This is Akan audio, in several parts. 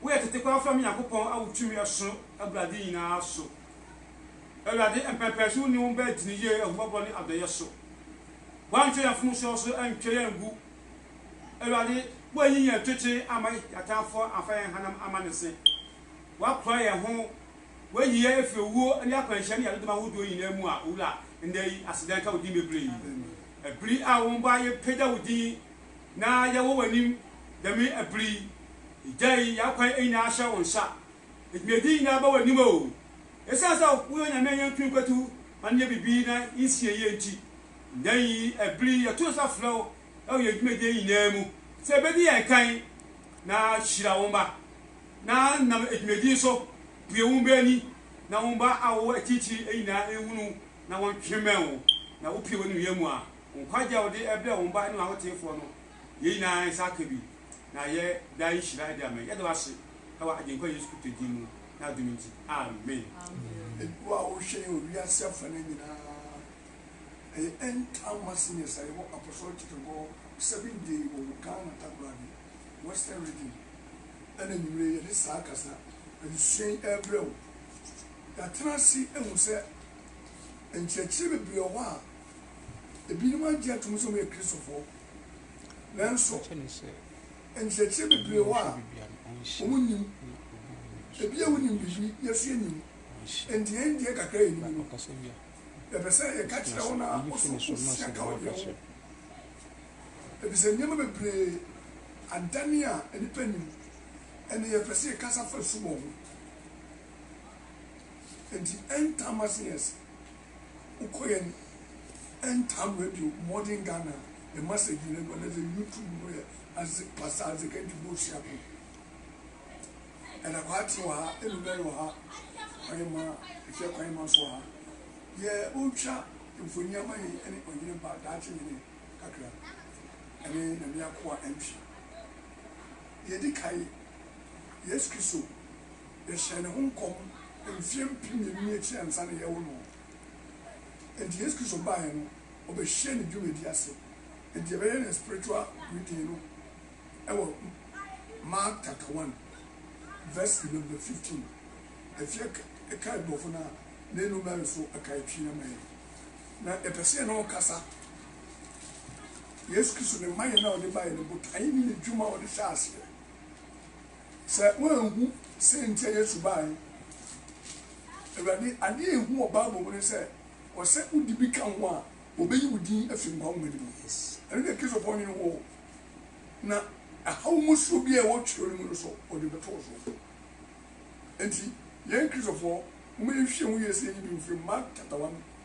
Wo yɛ tete koraa fam Nyankopɔn a wo tumi ɛso aburade nyinaa so. Awurade, mpɛnpɛnso wonni wo bɛ gyini yie, ahummɔborɔ ne adɔeɛ so. Woantwe yɛn mfomsoɔ so antwa yɛn angu. Awurade, woanyi yɛn twetwe amma yɛn atamfoɔ amfa yɛn hanam amma ne se. Woakora yɛn ho, woanyi yɛn afiri owuo ne akwanhyia ne yadodɔm ahodoɔ nyinaa mu a Owura, nnɛ yi, aseda nka wo din bebree. Ɛbiri a wo mma yɛpagya wo din. na yɛwɔ w'anim dɛm aber yi. Egyae y'akwan nyina ahyɛ wo nsa. Edwumadzi nyina aba w'anim o. Esian sɛ woyɛ Onyame a yenntum nnkwatu ma no nyɛ biribi na nnsi yie ntsi, ndɛ yi aber yi yɛto nsa frɛ wo wɔ hɛn dwumadie nyina mu sɛ bedzi hɛn kan na hyira wo mba na nam edwumadzi yi so bue wo mba ani na wo mba a wɔwɔ ekyirekyir nyina nhunu na wɔntwemɛn wo na wopue w'enumnyam a. Nkwagye a ɔde brɛ wɔn ba ne wɔn ahoteefoɔ no, yei nyinaa nsa aka bi, na ɛyɛ daa nhyira de ama yɛn. Yɛda wo ase wɔ Agyenkwa Yesu Kristo din mu, n'adom nti, amen. Wo a wohwɛ yɛn wɔ wiase afanan nyinaa, ɛyɛ End Time Messengers a yɛwɔ Apostolic Church of God Seventh Day wɔ wo Ghana Takoradi Western Region ɛna anwumerɛ yi yɛde saa kasa adesua yi ɛrebrɛ wo. Yɛatena ase ahu sɛ nkyerɛkyerɛ bebree wɔ hɔ a Ebinom agye atom sɛ wɔyɛ Kristofo, nanso nkyerɛkyerɛ bebree wɔ hɔ a wonnim. Ebia wonim biribi, nanso yennim. Enti yɛn deɛ kakra a yenim no, yɛpɛ sɛ yɛka kyerɛ wo na wo nso wusua ka wo deɛ ho, efisɛ nneɛma bebree adane a nnipa nim, ɛnna yɛpɛ sɛ yɛkasa fa su bɔ ho. Enti ɛntaa mma asen yɛn ase. Wokɔ yɛn Ntam Radio, Modern Ghana, ne Masagi no do a, na dze YouTube no yɛ adze, Pastor Isaac Antu Bosuaku. Ɛda Kwaatsee wɔ ha, Enumerɛ wɔ ha, Kwanyima, Efia Kwanyima so wɔ ha. Deɛ otwa mfonyin ama hɛn yi ne Ɔnyenema ba, Daakye Nyene kakra, ne Nyame Akoa Antwi. Deɛ edi kan, Yesu Kristo Yɛhyɛɛ ne ho nkɔm mfeɛ mpem mmienu ne akyire ansa na yɛrewo no. Enti Yesu Kristo baeɛ no, ɔbɛhyɛɛ ne dwumadie ase. Enti yɛbɛyɛ ne spiritual reading no wɔ Mark chapter one verse number fifteen. Ɛfeɛ ɛka aborɔfo no a na ɛnu mɛre so ɛka ɛtwi ama yɛn. Na yɛpɛ sɛ yɛne ɔkasa. Yesu Kristo ne mayɛ no a ɔde baeɛ no, botaeɛ ne ne dwuma a ɔde hyɛɛ aseɛ Sɛ woanhu sɛ nti a Yesu baeɛ Awurade, adeɛ a ɛhu wɔ Bible mu ne sɛ, ɔsɛ wode bi ka ho a, wɔbɛyi wo din afiri nkwa nwoma no mu. Ɛno deɛ Kristofoɔ nwene ho o, na ɛhaw mu soɔ biara a ɛwɔ twerɛ no mu no so, wɔde bɛto wo so. Enti yɛn Kristofoɔ, momma yɛnhwɛ mu yie sɛ yɛnyi bi mfiri Mark chapter one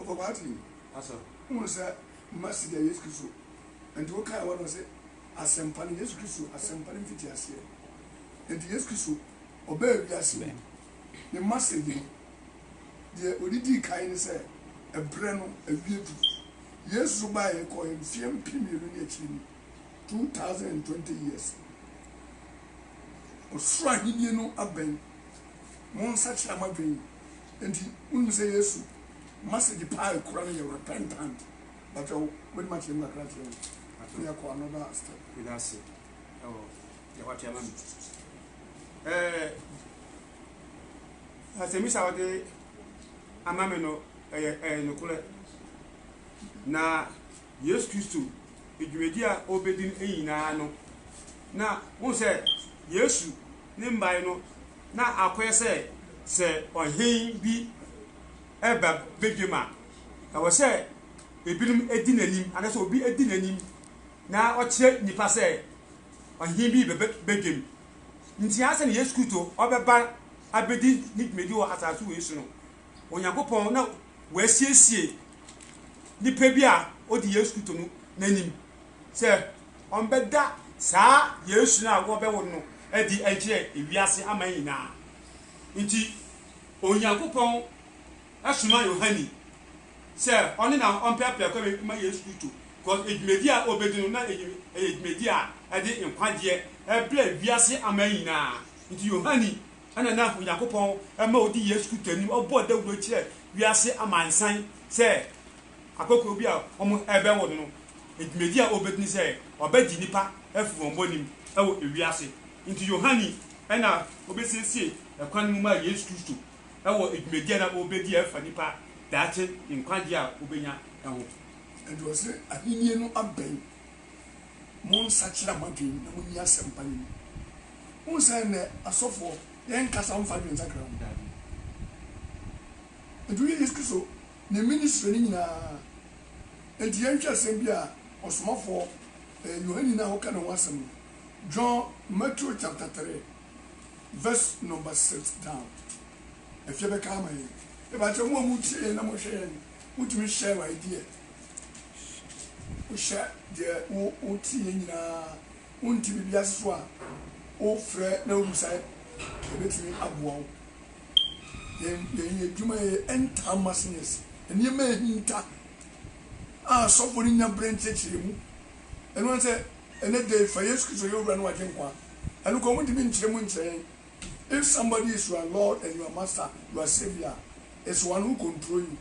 Ɔkɔ Matthew asɛm, wohunu sɛ Mercy deɛ Yesu Kristo nti wokae wɔ no ɔse asɛmpa no Yesu Kristo asɛmpa no mfiti aseɛ nti Yesu Kristo ɔbɛɛ wiase mu ne Mercy hene deɛ ɔde dii kan ne sɛ ɛberɛ no awie du Yesu so baeɛ kɔɛ mfeɛ mpe mmienu ne akyiri mu 2020 years ɔsoro ahennie no abɛn. Monsakyera mo adwen. Enti wonim sɛ Yesu message paa ekura no yɛ repentant. Bakyɛ wo wobɛtumi akyerɛ mu kakra akyerɛ yɛn na yɛakɔ another step. Meda ase wɔ deɛ woate ama me. Ɛɛ asɛmmisa a wode ama me no ɛyɛ ɛyɛ nokorɛ na. Yesu Kristo dwumadi a ɔrebɛdi no nyinaa no, na wohu sɛ Yesu ne mmae no, na akɔyɛ sɛ sɛ ɔhen bi reba badwam a, ɛwɔ sɛ ebinom di n'anim, anaasɛ obi di n'anim na ɔkyerɛ nnipa sɛ ɔhen bi rebɛba badwam. Nti ansa na Yesu Kristo ɔbɛba abɛdi ne dwumadi wɔ asase wei so no, Onyankopɔn na wasiesie nipa bi a odi Yesu Kristo no n'anim sɛ ɔbɛda saa Yesu no a wɔbɛwo no adi akyerɛ ewiase aman nyinaa. Nti Onyankopɔn soma Yohane sɛ ɔne na ɔmpɛaprɛ kwan ma Yesu Kristo, because edwumadi a obedi no na ɛyɛ edwumadi a ɛde nkwagyeɛ ɛbrɛ wiase aman nyinaa. Nti Yohane na na Onyankopɔn ma odi Yesu Kristo anim, ɔbɔ dawuro kyerɛ wiase amansan sɛ akokoɔ bi a wɔrebɛwo no no, dwumadi a ɔrebɛdi ne sɛ ɔbɛgye nnipa afiri wɔn bɔne mu wɔ ewiase. Nti Yohane na ɔbɛsiesie kwan mu ma Yesu Kristo wɔ dwumadi a na ɔrebɛdi a ɛfa nnipa daakye nkwagyeɛ a wɔbɛnya ho. Ɛnti ɔse ahennie no abɛn. Monsakyera mo adwene na monni asɛmpa no ni. Wohu sɛ nnɛ asɔfoɔ, yɛn nkasa wɔmfa adwene nsakra ho. Nti woyɛ Yesu Kristo ne ministry no nyinaa. Nti yɛnhwɛ asɛm bi a ɔsomafoɔ ɛɛ Yohane no a woka ne ho asɛm no, John, Matthew chapter three verse number six down. Afie bɛka ama yɛn. Mepa kyɛw mo a motie yɛn na mohwɛ yɛn no, motumi share ideɛ. Wohyɛ deɛ wo woteɛ nyinaa wonte biribi ase so a wofrɛ na wobusae ɛbɛtumi aboa wo. Yɛn yɛn adwuma yɛ ɛntaa ma seniors nneɛma ahinta a asɔfo no nya berɛ nkyerɛkyerɛ mu. Ɛno ara sɛ ɛnɛ da yi fa Yesu Kristo yɛ owura ne w'agyenkwa a ɛno koraa wɔntumi nkyerɛ mu nkyerɛ yɛn If somebody is your lord and your master, your saviour, it's one who control you.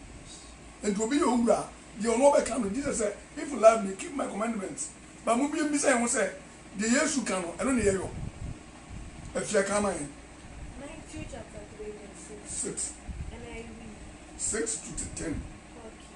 Enti obi yɛ owura a, deɛ ɔno ɔbɛka no, Jesus sɛ, if you love me, keep my commandments. But mo bia mbisa yɛn ho sɛ, deɛ Yesu ka no, ɛno na yɛyɔ? Afia kan ma yɛn. Matthew chapter three verse six. Six. NIV. Six to ten. Okay.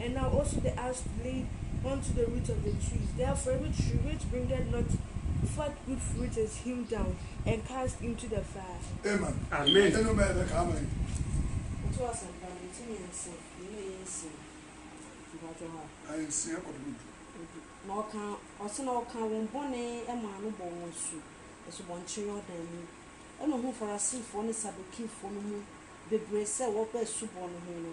and now also the axe to lay unto the root of the trees, therefore every tree which bringeth not forth good fruit is hewn down, and cast into the fire. Amen. Amen. Ɛnu mɛ ɛbɛ kaa mɛ. Ɔtɔ asɛmpa no nti mi nsia mi na ɛyɛ nsia mpatsɔ ha. Ayɛ nsia kɔ do du. Odu na ɔka ɔsi na ɔka wɔn bɔne ɛma ano bɔ wɔn asu asubɔnkye Yordan mu ɛna ohun Farasifoɔ ne Sadukifoɔ no mu bebree sɛ wɔba asubɔ no ho no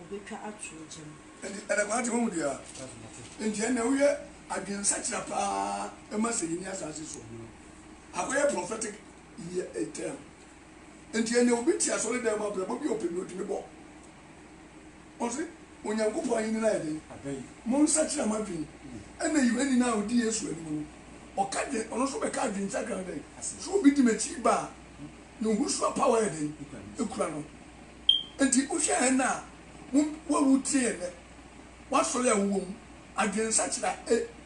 ɔbɛtwa ato gya mu. Enti ɛda kwaa te wahu deɛ a enti ɛnna woyɛ adwene nsakyera paa ɛma sɛ yɛnni asaase so akɔyɛ prophetic year a term enti ɛnna obi te asɔre dan mu abrabɔ bi a ɔpɛ bi ɔtumi bɔ ɔse onyankopɔn ahenni no ayɛ dɛn mo nsakyera mo adwene ɛnna yohani no a ɔdi yesu anim no ɔka dwene ɔno nso bɛka adwene nsakyera no dɛn so obi di m'akyi ba a ne ho sua power yɛ dɛn ɛkura no Enti wohwɛ hɛn a woewu tse hɛn dɛ, w'asɔr a ewɔ mu, adwensakyera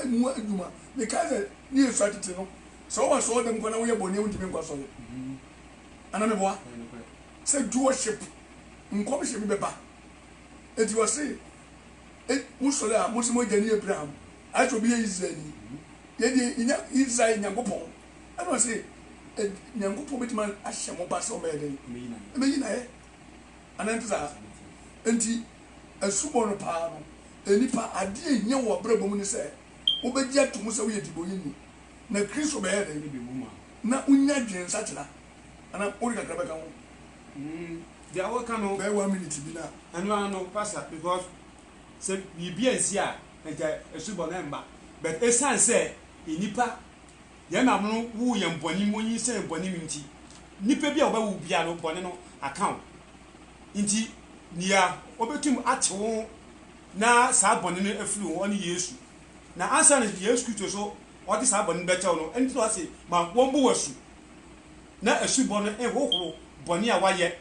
a mu edwuma. Mekãa dɛ ne yɛ sua tsetse no, sɛ ɔwɔ asɔrdan mu koraa na woyɛ bɔn a wonntumi nnkɔ asɔr. Ana meboa? Sɛ duɔship nkɔmhyɛ bi bɛba, enti wɔse, E, mo sɔr a mose mo egya ne Abraham, ayɛ sɛ obi yɛ Israelnyi. Yɛn dze, yenya Israel Nyankopɔn Ɛna ɔse ed Nyankopɔn bɛtumi ahyɛ mo ba sɛ ɔmɛyɛ dɛn? Ɔmɛyi no ayɛ. Anaa ɛnte saa? Enti asubɔ no paa no, nnipa, adeɛ a ɛhia wɔ w'abrabɔ mu ne sɛ wobɛgye ato mu sɛ woyɛ dibɔneni, na Kristo bɛyɛ dɛn? Na wonya adwene nsakyera. Anaa wode kakra bɛka ho? Deɛ woka no. Bɛyɛ one minute bi na. Ɛno ara no, Pastor, because sɛ biribi ansi a, anka asubɔ no ɛmma. But ɛsiane sɛ nnipa Yɛn maame no woo yɛn bɔne mu, onyinsɛn yɛn bɔne mu nti, nipa bi a ɔbɛwo biara no, bɔne no aka wo. Nti, nea obetumi ate wo ho na saa bɔne no afiri wo hɔ ne Yesu. Na ansa na Yesu Kristo so ɔde saa bɔne no bɛkyɛ wo no, ɛno nti na ɔse ma wɔmmɔ wo asu, na asubɔ no nhohoro bɔne a woayɛ.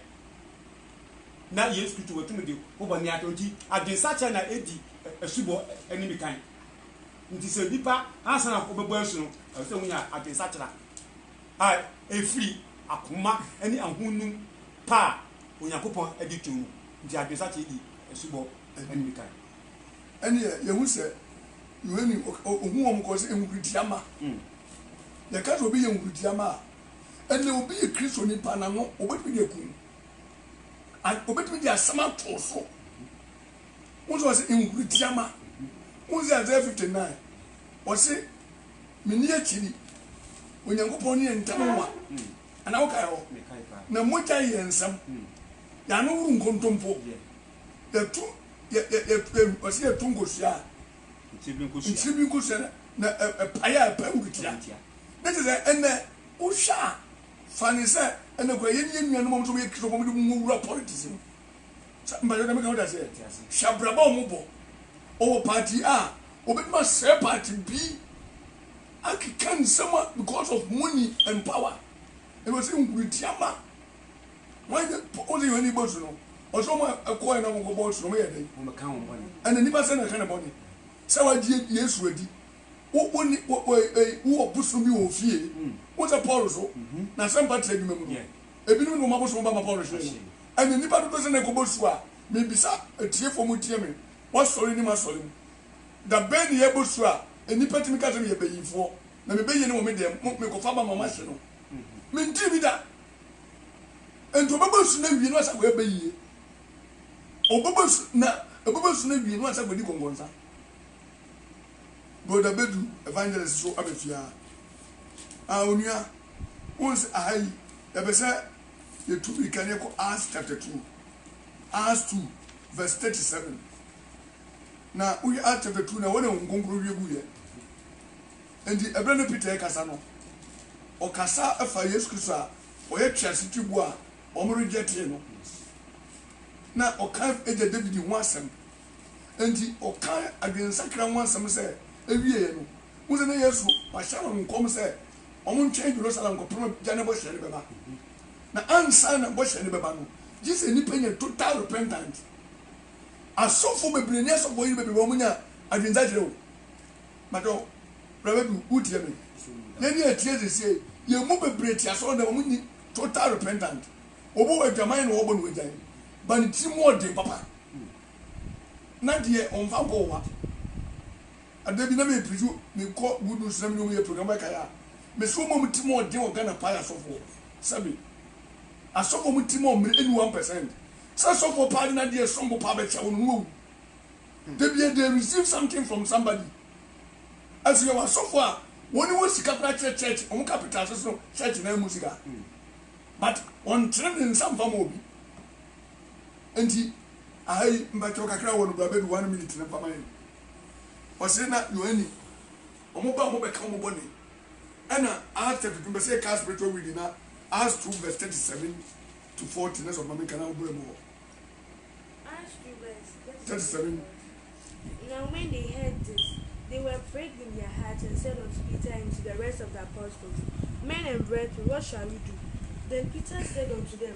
Na Yesu Kristo watumi de wo bɔne akyɛ wo, nti adwensakyera na edi asubɔ anim kan. Nti sɛ nipa ansa na ɔbɛbɔ asu no, ɛsɛ sɛ wonya adwensakyera a ɛfiri akoma ne ahonum pa a Onyankopɔn de to mu. Nti adwensakyera di asubɔ anim kan. Ɛnneɛ yɛhu sɛ Yohane ɔhu wɔn kɔɔ sɛ nhuruduama. Yɛka sɛ obi yɛ nhuruduama a, ɛnneɛ obi yɛ Kristoni pa na no, wɔbɛtumi de aku no. Wɔbɛtumi de asɛm ato so. Wohu sɛ ɔse nhurutia ma. Wohu sɛ Isaiah 59, ɔse menni akyiri, Onyankopɔn ne yɛn ntam nwa. Anaa wokae hɔ? Na mogyae yɛn nsam. Y'ano woro nkontompo. Yɛtu, yɛ, yɛ, yɛ, yɛ, ɔse yɛtu nkosua a, nkyiri bi nkosua na, na ɛ, ɛpae a ɛpae nhurutia. Ne te sɛ ɛnnɛ, wohwɛ a, fa ne sɛ ɛnnɛ kura yɛne yɛn nuanom a wɔn nso wɔyɛ Kristofo a wɔde wɔn wura politics mu. Sa mpakyɛw dɛm ka wo dasɛ hwɛ abrabɔ a ɔmo bɔ ɔwɔ party a obetumi asɛɛ party bi akeka nsɛm a because of money and power ɛna ɔsɛ nkurutia ma wɔn nyɛ ɔmo sɛ yohane bosu no ɔsɛ ɔmo a ɛkɔɛ na ɔmo kɔ bɔ su no ɔmo yɛ dɛn ɔmo ka wɔn bɔne ɛna nipa sɛ na ɛka ne bɔne sɛ wagye yesu adi wo wo ne wo wo ɛyi wo wɔ bosom bi wɔ fie mm. wo sɛ paul so mm -hmm. na asɛmpa te adwuma mu no yeah. ebinom de wɔn abosom ba ma paul hyeɛ no. Ɛnde nnipa dodow sɛn na ɛkɔbɔ su a? Mibisa atiefo a wɔretie me wɔ asɔre ne m'asɔre mu, Da bɛn na yɛbɔ su a nnipa tumi ka sɛ meyɛ bayifoɔ, na me bayie no wɔ me dan mu, mekɔfa ba ma wɔahye no? Mentee bi da. Enti ɔbɛbɔ asu no awie na wasan akɔyɛ bayie? Ɔbɛbɔ asu na ɛbɛbɔ asu no awie na wasan akɔdi kɔnkɔnsa? Brɔda Badu, Evangelist so aba fie aa. Aa onua, wohu sɛ aha yi, yɛpɛ sɛ. Yɛtu mmirika na yɛkɔ Acts chapter two, Acts two verse thirty seven. Na wohwɛ Acts chapter two na wɔn na Honhom Kronkron hwie gu yɛ. Nti ɛberɛ na Peter rekasa no, ɔkasa fa Yesu Kristo a ɔyɛ twease tiboɔ a wɔn rejectee no. Na ɔka agya David ho asɛm. Nti ɔka adwensakra ho asɛm sɛ ɛwieɛ no, wohu sɛ na Yesu wahyɛ wɔn nkɔm sɛ wɔntwɛn Jerusalem kɔpem agya no bɔhyɛ no bɛba. Na ansa na bɔhyɛ no bɛba no, gye sɛ nnipa nya total repentance. Asɔfo bebree ne asɔfo yere bebree wɔn nya adwensakyerɛ o. Matɔ, Bra Badu, wo tie me. Yɛn ni ɛteɛ sesie, yɛn mu bebree te asɔre dan wɔn nni total repentance. Obi wɔ adwaman na wɔbɔ no wagyae, but ne tiri mu ɔden papa. Na deɛ wɔnfa nkɔ ɔwa. Ada bi na me preju me kɔ good news na me ne ɔmo yɛ program ɛkae a me se ɔmo a ɔmo ti mɔ ɔden wɔ Ghana paa yɛ asɔfoɔ sɛ me asɔfoɔ ɔmo ti mɔ mmere ɛnu one percent sɛ sɔfoɔ paa de nadeɛ ɛsom bo paa bɛkyɛ wo no na wawu dabiaa they receive something from somebody ɛso yɛwɔ asɔfoɔ a wɔn ni wɔ sika koraa kyerɛ church ɔmo ka pete ase sono church na ɛmu sika but ɔntene ne nsa mfa ma obi nti aha yi mpakyɛw kakra wɔ no bra bɛdu one minute ne mfa ma yɛn. Ɔse na nyowa ni ɔmo ba ɔmo bɛka ɔmo bɔne ɛna Acts chapter two bɛsɛ yɛka spiritual reading na Acts two verse thirty seven to forty na sɛ ɔde ma menka na wobere mu hɔ. Acts two verse thirty seven to forty Now when they heard this, they were pricked in their hearts and said unto Peter and to the rest of the apostles, Men and brethren, what shall we do? Then Peter said unto them,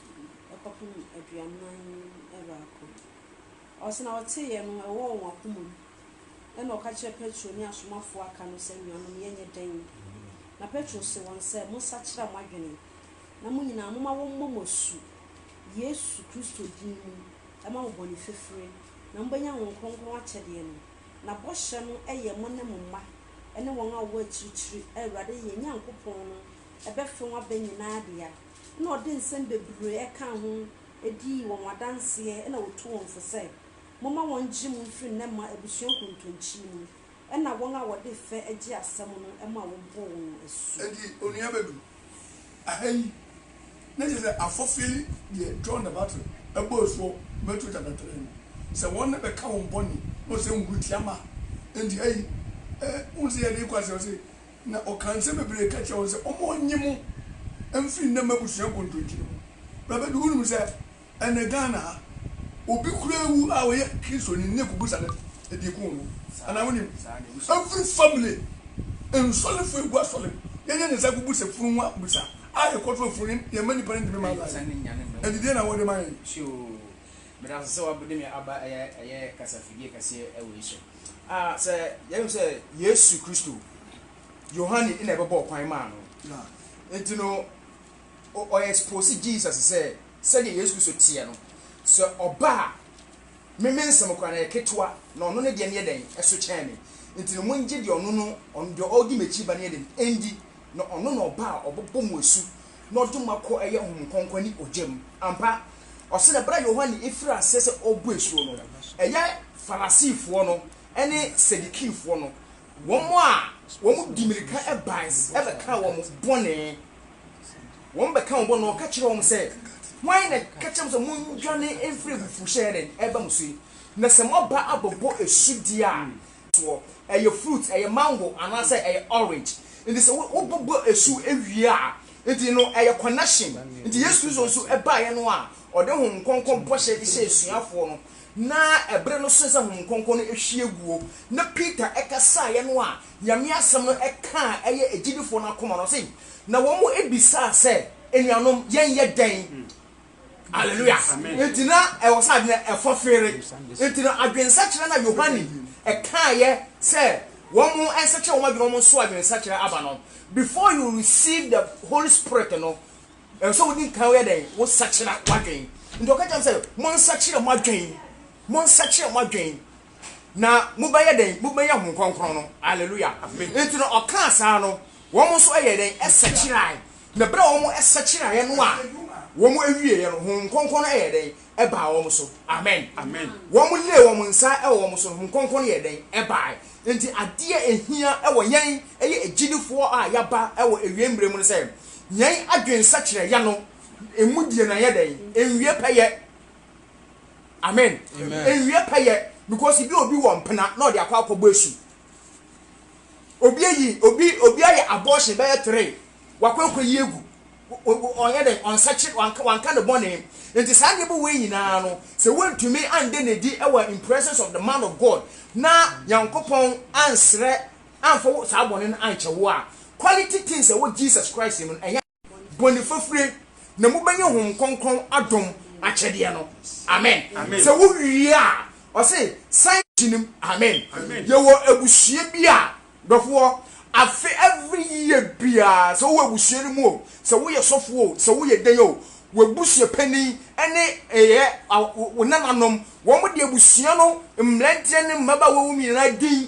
kɔpem aduanan baako. Ɔse na ɔteeɛ no ɛwɔ wɔn akoma mu, ɛna ɔka kyerɛɛ Petro ne asomafoɔ a aka no sɛ, Anuanom, yɛnyɛ dɛn? Na Petro se wɔn sɛ, Monsakyera mo adwene, na mo nyinaa momma wɔmmɔ mo asu Yesu Kristo din mu mma mo bɔne fafire, na mobɛnya Honhom Kronkron akyɛdeɛ no. Na bɔhyɛ no yɛ mo ne mo mma, ne wɔn a wɔwɔ akyirikyiri, a Awurade yɛn Nyankopɔn no bɛfrɛ wɔn aba nyinaa dea. na ɔde nsɛm bebree kaa ho dii wɔn adanseɛ na ɔtuu wɔn fo sɛ, Momma wɔngye mo mfiri nnɛ mma abusua kontonkyi mu, ɛnna wɔn a wɔde fɛ gye asɛm no ma wɔbɔ wɔn asu. Enti onua bɛdu ha yi na kyerɛ sɛ afɔfeɛ deɛ John the Baptist bɔɔ asu wɔ Matthew chapter three no, sɛ wɔn na bɛka wɔn bɔne na ɔsɛ nhuru tia ma, enti ha yi wohu sɛ yɛde rekɔ aseɛ ɔse Na ɔkaa nsɛm bebree ka kyerɛɛ wɔn sɛ ɔmma ɔnnye mo mfiri nnɛ m'abusua nkontonkyi no mu. Bra bɛdu hɔ nim sɛ ɛnnɛ Ghana ha, obi koraa wu a ɔyɛ Kristoni ne kuku sa no adi ko wɔ mu. Anaa wonim? Every family, nsɔrefo egu asɔre mu, yɛyɛ ne saa kogu sɛ funu ho abisa a yɛkɔ to afunu no, yɛmma nnipa no ntumi mma line. Ɛnde deɛn na wɔde ma yɛn? Tio! Meda wo ase sɛ woabede me aba ɛyɛ kasafidie kɛseɛ wei so. A Sɛ yɛhu sɛ Yesu Kristo, Yohane na ɛbɛbɔɔ kwan maa no. Enti no, ɔ expose Jesus sɛ, sɛdeɛ Yesu Kristo teɛ no, sɛ ɔba a, me me nsɛm koraa no ɛyɛ ketewa, na ɔno ne deɛ no yɛ dɛn? Ɛso kyɛn me. Enti no, mongye deɛ ɔno no, ɔno deɛ ɔdi m'akyi ba no yɛ dɛn? Ɛndi, na ɔno na ɔba a ɔbɛbɔ mo asu na ɔde mo akɔ ɛyɛ Honhom Kronkron ne ogya mu. Ampa, ɔse na bere a Yohane firi aseɛ sɛ ɔrebɔ asuo no, ɛyɛ Farasifoɔ no ne Sadikifoɔ no, wɔn a wɔn de mirika bae bɛkaa wɔn bɔne, wɔn bɛkaa wɔn bɔne, na ɔka kyerɛɛ wɔn sɛ, Hwan na ɛka kyerɛ mo sɛ mondwane mfiri abufuohyɛ a ɛreba mo so yi? Na sɛ moaba abɛbɔ asu deɛ a, soɔ, ɛyɛ fruit, ɛyɛ mango anaasɛ ɛyɛ orange, nti sɛ wo wo bobɔ ɛsu ɛwie a, nti no ɛyɛ connection, nti Yesu Kristo nso ɛbaeɛ no a ɔde Honhom Kronkron bɔhyɛ de hyɛɛ asuafoɔ no, na ɛberɛ no soɛ sɛ Honhom Kronkron no ɛhwie guo, na Peter ɛkasaeɛ no a Nyame asɛm no ɛkaa ɛyɛ agyidifoɔ no akoma no, ɔse, na wɔn bisaa sɛ, Anuanom, yɛn yɛ dɛn? Hallelujah! Nti na ɛwɔ sɛ adwene ɛfɔ feere. Nti no adwensakyera na Yohane ɛkaayɛ sɛ wɔn nsakyera wɔn adwene, wɔn nso adwene nsakyera aba no. Before you receive the Holy Spirit no, ɛwɔ sɛ wodi nkan woyɛ dɛn? Wo sakyera w'adwene. Nti ɔka kyerɛ sɛ mo nsakyera mo adwene, mo nsakyera mo adwene na mobɛyɛ dɛn? Mobɛnya Honhom Kronkron no. Hallelujah! Nti no ɔkaa saa no, wɔn nso ɛyɛ dɛn? Ɛsakyerae. Na bere a wɔsakyeraeɛ no a wɔwieeɛ no, Honhom Kronkron no yɛɛ dɛn? Ɛbaa wɔn so. Amen. Wɔlee wɔn nsa wɔ wɔn so no, Honhom Kronkron no yɛɛ dɛn? Ɛbaae. Enti adeɛ a ɛhia wɔ yɛn ɛyɛ agyidifoɔ a yɛaba wɔ awiei mmerɛ mu no sɛ, yɛn adwene sakyeraeɛ no mu deɛ no anyɛ dɛn? Ɛnwie pɛyɛ. Amen. Ɛnwie pɛyɛ. Because bi a obi wɔ mpena na ɔde akɔ akɔbɔ asu. obi ayi obi obi ayɛ abortion bɛyɛ three wakɔkɔ yi egu ɔnyɛ dɛ ɔnsakyere wanka wanka ne bɔne nti saa nneɛma wei nyinaa no sɛ wontumi ande n'adi ɛwɔ in presence of the man of God na nyankopɔn ansrɛ amfa wo saa bɔne no ankyɛ wo a quality things ɛwɔ Jesus Christ mu no ɛnyɛ bɔne fafire na mobɛnya hom kronkron adom akyɛdeɛ no amen sɛ wowie a ɔse san kyinim amen yɛwɔ abusua bi a dɔfoɔ afe every year biara sɛ wowɔ abusua no mu o sɛ woyɛ sɔfoɔ o sɛ woyɛ dɛn o wabusua panin ɛne ɛyɛ wo nananom wɔn de abusua no mmeranteɛ ne mmabaawa wɔn nyinaa din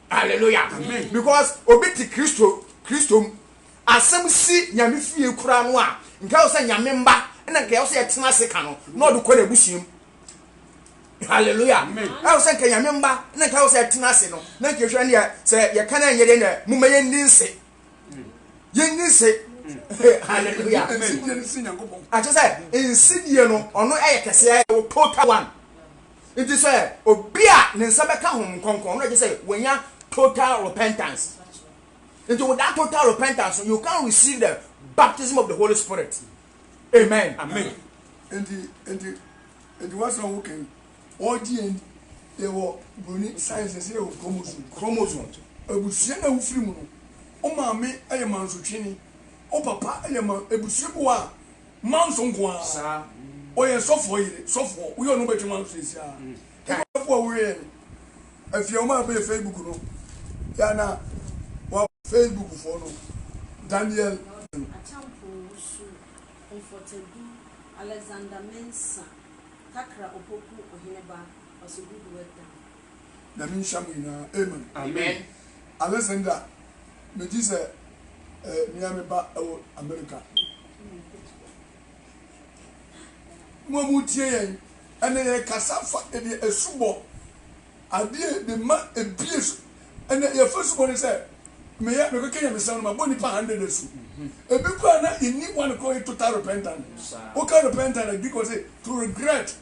Hallelujah Amen. Because obi te Kristo Kristo mu. Asɛm si Nyame fie kura no a, nka wo sɛ Nyame mba na nka yɛwɔ sɛ yɛtena ase ka no na ɔde kɔ n'abusua mu. Hallelujah. Amen. Ɛwɔ sɛ nka Nyame mba na nka yɛwɔ sɛ yɛtena ase no na nka yɛhwɛ ne sɛ yɛka no ɛnyɛ deɛ na moma yɛnni nse. Yɛnni nse. Hallelujah. Akyɛ sɛ nsidie no ɔno ɛyɛ kɛseɛ total one. Ntsi sɛ obi a ne nsa bɛka hom nkɔnkɔn na gyesɛ oenya total repentance. Ntsi with that total repentance no you can receive the baptism of the Holy Spirit. Amen. Amen. Enti, enti, enti what's wrong with Ken? All DNA, they were Bruni science, they were chromosome. Chromosome. Ebusua na wofiri mu no, o maame yɛ mansotwini, o papa yɛ man, ebusua bi wɔ a, Manso nko ara. Saa. Ɔyɛ sɔfoɔ yere. Sɔfoɔ. Woyɛ ɔno wobɛtwe manso sɛsi ara. Time. Sɔfoɔ a woyɛɛ no afie a wɔmaa bɛyɛ Facebook no yɛ a na wa. Facebook foɔ no. Daniel. Akyampo Wusu, Comfort Adu, Alexander Mensah, Takra Opoku Oheneba was a good work done. Nyame nhyira mo nyinaa amen. Amen. Alexander megye sɛ eh nua me ba ɛwɔ America. Mo a moretie yɛn nnɛ, yɛrekasa fa ɛdeɛ asubɔ, adeɛ de ma ebie so. Ɛnɛ yɛfa subɔ ne sɛ, meyɛ mekɔka nyamesɛm no mabɔ nipa hundred asu. Ebi koraa na yɛnni one koraa yɛ total repentant. Woka repentant a Greek wɔ se to regret,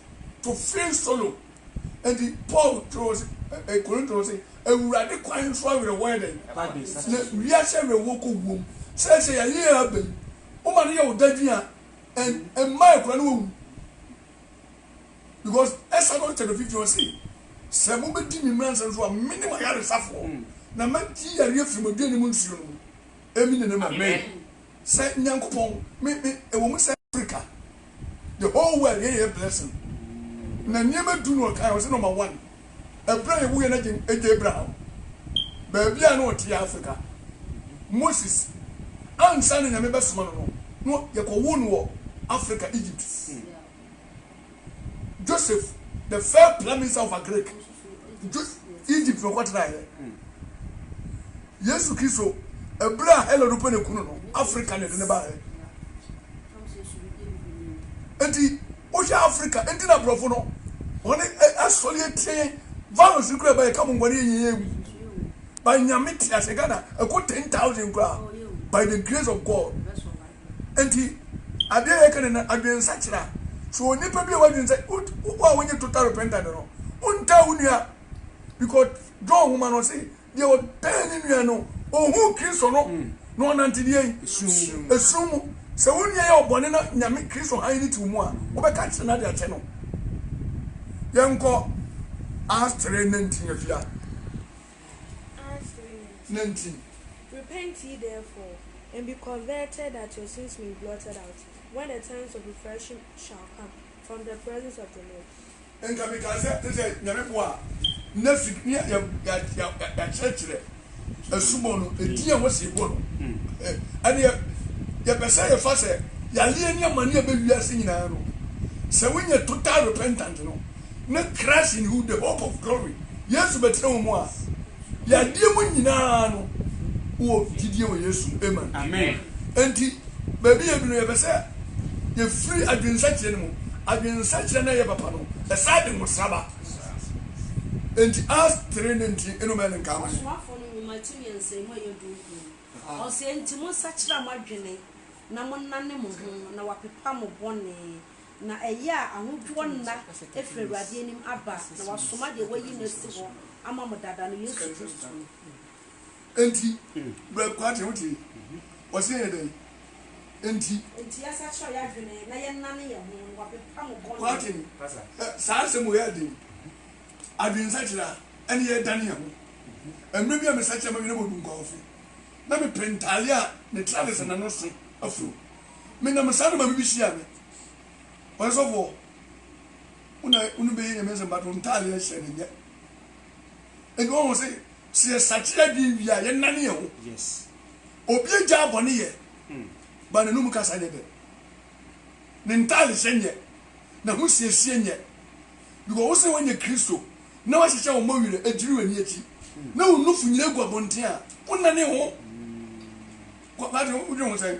to feel sorrow. Enti Paul twerɛɛ wɔn se, Korinto no se, Awurade kwan so awerɛhoɔ yɛ dɛn? Pa de, na wiase awerɛhoɔ kɔ wuo mu. Seesei yɛaye yɛn aba yi, woma no yɛ wo dadwen a, ɛ, mma akura no wawu. Because Exodus chapter fifteen ɔse, Sɛ mobɛdi me mmara nsɛm so a, mene mo ayaresafoɔ, na mɛgye yareɛ afiri mo aduane mu nsuo no mu. Amine and amen. Sɛ Nyankopɔn me me ɛwɔ mu sɛ Africa the whole world yɛ yɛ blessing na nneɛma du no ɔkae ɔse number one ɛberɛ a yɛwuiɛ no agye agye Abraham baabi a na ɔteɛ Africa Moses ansa na Nyame bɛsoma no no no yɛkɔwoo no wɔ Africa Egypt. Joseph, the first prime minister of Agric, Egypt na ɔkɔtenaeɛ. Yesu Kristo, ɛberɛ a Herod pɛ ne kunu no, Africa na ɛde ne baeɛ. Enti, wohwɛ Africa, enti na aborɔfo no, wɔn asɔre atie virus no kura bɛyɛ ka mo ngwane yɛn yɛn wu. Ba nyame te ase Ghana, ɛkɔ ten thousand kura by the grace of God. Enti, ade a yɛka no nnɛ, adwensakyera. So onipa bi a wadwen sɛ, wo a wonye total repentant no, wontaa wo nua? Because John nhoma no se, deɛ ɔtan ne nua no, ɔnhuu Kristo no, na ɔnante deɛn? Esum mu. Sɛ wo nua yɛ ɔbɔne na Nyame, Kristo hann no te wo mu a, wobɛka akyere no ade akyɛ no. Yɛnkɔ Acts 3:19 afia. na nti. Repent ye therefore, and be converted, that your sins may be blotted out, when the times of refreshing shall come from the presence of the Lord. Nka mekaa sɛ, te sɛ Nyame boa a, na fi ne a yɛakyerɛkyerɛ asubɔ no, ɛdin a wɔsi ɛbɔ no, ɛneɛ yɛpɛ sɛ yɛfa sɛ yareɛ ne amane a ɛbɛ wiase nyinaa no, sɛ wonya total repentant no, ne Christ in you, the hope of glory, Yesu bɛtena wo mu a, deɛ adeɛ mu nyina ara no, wowɔ gyidie wɔ Yesu mu, amen. Amen. Enti baabi yɛ duru no, yɛpɛ sɛ yɛfiri adwensakyerɛ no mu, adwensakyerɛ no a ɛyɛ papa no, ɛsan de nwosra ba. Enti Acts three no nti no mɛn nka ama yɛn. Ɔsomafoɔ no nwoma a ɛto mmiɛnsamu a ɛyɛ dunkron no, ɔse, Enti monsakyera moadwene na monnane mo ho na wɔapepa mo bɔne, Na ɛyɛ a ahodoɔ nna firi Awurade anim aba, na wasoma deɛ wayi no asi hɔ ama mo dada no, Yesu Kristo no. Enti, Brɛ Kwati, wote yi? Ɔse yɛ dɛn? Enti. Enti yɛasakyera yɛn adwene na yɛnnane yɛn ho, na wapepa mo bɔne. Kwati, Saa asɛm wei yɛ den. Adwensakyera, ɛne yɛredane yɛn ho. Mmerɛ bi a mesakyera m'adwene bɔ Dunkwaaofe, na mepɛ ntadeɛ a ne tra ne sɛ n'ano so afuro. Menam saa na maame bi hyiaa me. Ɔyɛ sɔfo o, wo na wo no bɛyɛ Nyame asɛm but wo ntaade a hyɛ no nyɛ. Enti wɔn sɛ sɛ yɛ sakye adwene wie a yɛ nane yɛ ho. Yes. Obi agya abɔne yɛ, hmm. ba na num kasa nyɛ dɛ. Ne ntaade hyɛ nyɛ, na ho siesie nyɛ. Because wo sɛ wɔnyɛ Kristo na wɔahyehyɛ wɔn bɔ werɛ agyiri wɔn ani akyi. Hmm. Na wɔn nufo nyina gu abɔnten a, wo nane ho. Hmm. Kwate, wodwene ho sɛn?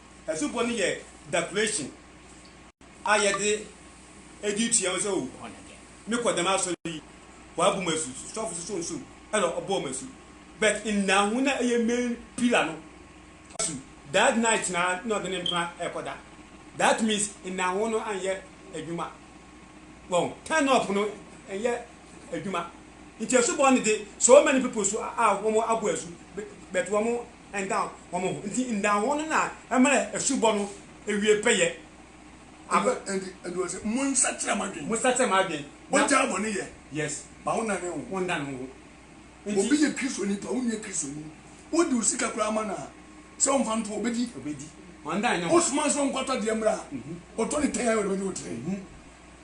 Asubɔ no yɛ declaration a yɛde edi tua ho sɛ o mekɔ dɛm asɔre yi wɔabu mu asu sɔfo soso nsu ɛna ɔbɔ mu asu but nna ho na ɛyɛ main pillar no asu that night na na ɔde ne mpena ɛkɔda that means nna ho no anyɛ adwuma wɔn turn up no ɛnyɛ adwuma nti asubɔ no de so many people so a wɔn abo asu but wɔn nda hɔn ho. Ntsi nda hɔn no na mma esubɔ no ewie pɛyɛ. Ɔno ntsi na ɔse, Monsakyera mo adwen. Monsakyera mo adwen. Na. Ogyaa bɔne yɛ. Yes. Ma wondan ho. Wondan ho. Ntsi. Obi yɛ Kristoni paa, wonnyɛ Kristoni. Wode wo sika koraa ma no a, sɛ ɔmfa nto hɔ a, obedi? Obedi. Ɔndan ne ho. Wosoma no sɛ ɔnkɔtɔ adeɛ mmra a, ɔtɔ ne tɛn ara na ɔde bɛgye wo tiri.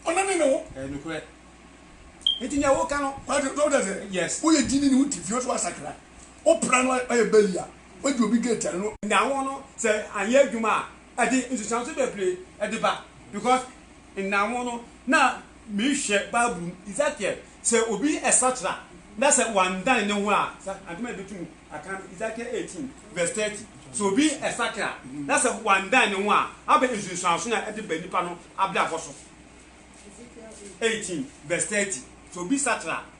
Ɔnane ne ho. Ɛyɛ nokorɛ. Enti nea woka no. Wate, so wote aseɛ? Yes. Woyɛ gyidini, wote fie, wosɛ woasakra. Wo pra no ɔyɛ bɛli a, wadi obi gate a ɛno. Nda ho no sɛ anyɛ adwuma a ɛde nsusuanso bebree de ba because nda ho no na mehwɛ bible mu Ezekiel sɛ obi sakyera na sɛ wandan ne ho a sɛ antɛm a ɛbɛtumi aka no Ezekiel 18 verse 30 sɛ obi sakera na sɛ wandan ne ho a abɛ nsusuanso na ɛde ba nipa no abrabɔ so 18 verse 30 sɛ obi sakyera a.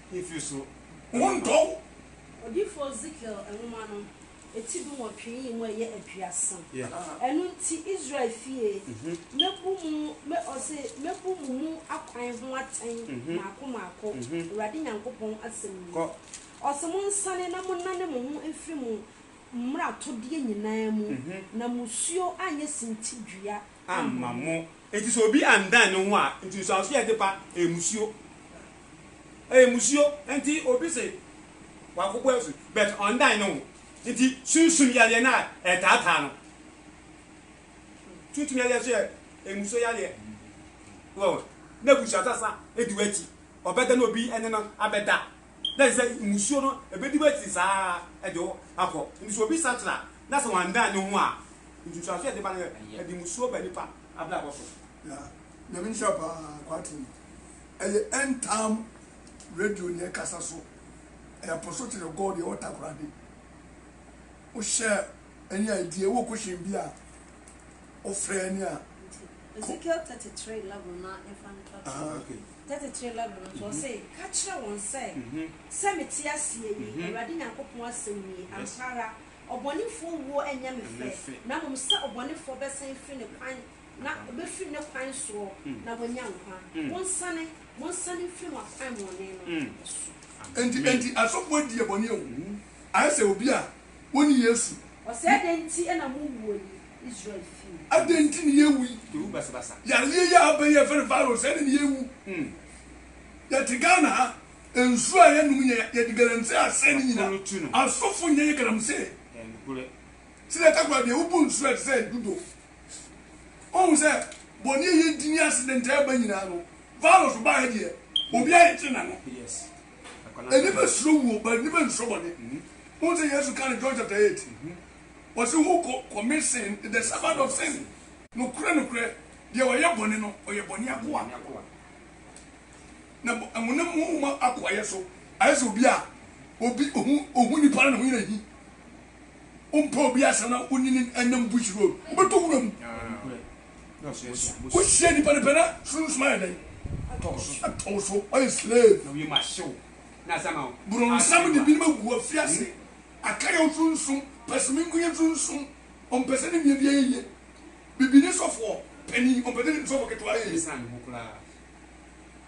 Efi so ho ntɔ wo. Odiyifo Ezekiel nwoma no, eti dunwɔtwe yi mu ɛyɛ aduasa. Ɛno nti, Israel fie, mɛbu mo, mɛ, ɔse, mɛbu mo mu akwan ho atɛn mmaako mmaako, Awurade Nyankopɔn asɛm nie. Ɔse, Monsane na monnane mo ho mfiri mo mmaratodeɛ nyinaa mu, na musuo anyɛ sintidua amma mo. Enti sɛ obi andan ne ho a, nti nsuanso yɛ ade pa, ɛyɛ musuo. Ɛyɛ musuo. Enti obi se wakɔbɔ asu, but ɔndan ne ho. Enti sunsum yareɛ no a ɛtaataa no, sunsum yareɛ nso yɛ ɛmusuo yareɛ. Wɔ, na abusua sasa di w'akyi, ɔbɛda na obi ne no abɛda, na ɛsɛ sɛ mmusuo no bɛdi w'akyi saa de wo akɔ. Enti sɛ obi sakyera a, na sɛ wanndan ne ho a, nsunsuansoɔ a ɛde ba no yɛ, ɛde mmusuo ba nnipa abrabɔ so. Na Nyame nhyira paa Kwarteng. Ɛyɛ End Time Radio na ɛkasa so. Ɛyɛ Apostle Kyere Gold, yɛwɔ Takoradi. Wo hyɛ ɛne a ɛdi ɛwɔ question bi a wo frɛ ɛne a. Nti Ezekiel 33 11 no ara mfa nto ato mu. 33 11 no nso ɔse, Ka kyerɛ wɔn sɛ, sɛ me te aseɛ yi, Awurade Nyankopɔn asɛm nie, ampa ara ɔbɔnefoɔ wuo ɛnyɛ me fɛ, na mmom sɛ ɔbɔnefoɔ bɛsan firi ne kwan na ɔbɛfiri ne kwan soɔ na wanya nkwa. Monsane, monsane mfiri mo akwammɔne no so. Enti, enti asɔfoɔ di yɛ bɔne o. Ayɛ sɛ obi a onni Yesu. Ɔsɛɛ dɛn nti na mowuo yi, Israel fie? Adɛn nti na yɛawu yi? Yɛwu basabasa. Yareɛ yi a aba yi a yɛfrɛ no virus sɛɛ na na yɛwu. Yɛte Ghana ha, nsuo a yɛnom yɛ yɛde galamsey asɛe ne nyina. Asɔfo nyɛ yɛ galamsey. Sɛdeɛ ɛtɛ koraa deɛ wobɔ nsuo a ɛte sɛ dodo. Woahu sɛ bɔne a yɛdi ne accident a ɛba nyinaa no, virus ba ha deɛ obiara yɛkyere n'ano. Nnipa suro wuo but nnipa nsuro bɔne. Wohu sɛ Yesu kaa no John chapter eight. Ɔse who co commit sin is the servant of sin. Nokorɛ nokorɛ deɛ ɔyɛ bɔne no ɔyɛ bɔne akoa. Na honam mu honhom akoayɛ so ayɛ sɛ obi a obi ohu ohu nipa na ne ho yɛ no ahi. Wompɛ obi asɛm na wone no nam bush road wobɛtɔ wura mu. wohyia nipa no pɛ na sunsum ayɛ dɛn atɔ wo so ɔyɛ slave borɔnsam de binom agu afiri ase akayɛw sunsum pɛsomenkoyɛ sunsum ɔmpɛ sɛ ne nua bi ayɛ yie bibini sɔfoɔ panin ɔmpɛ sɛ ne sɔfo ketewa ayɛ yie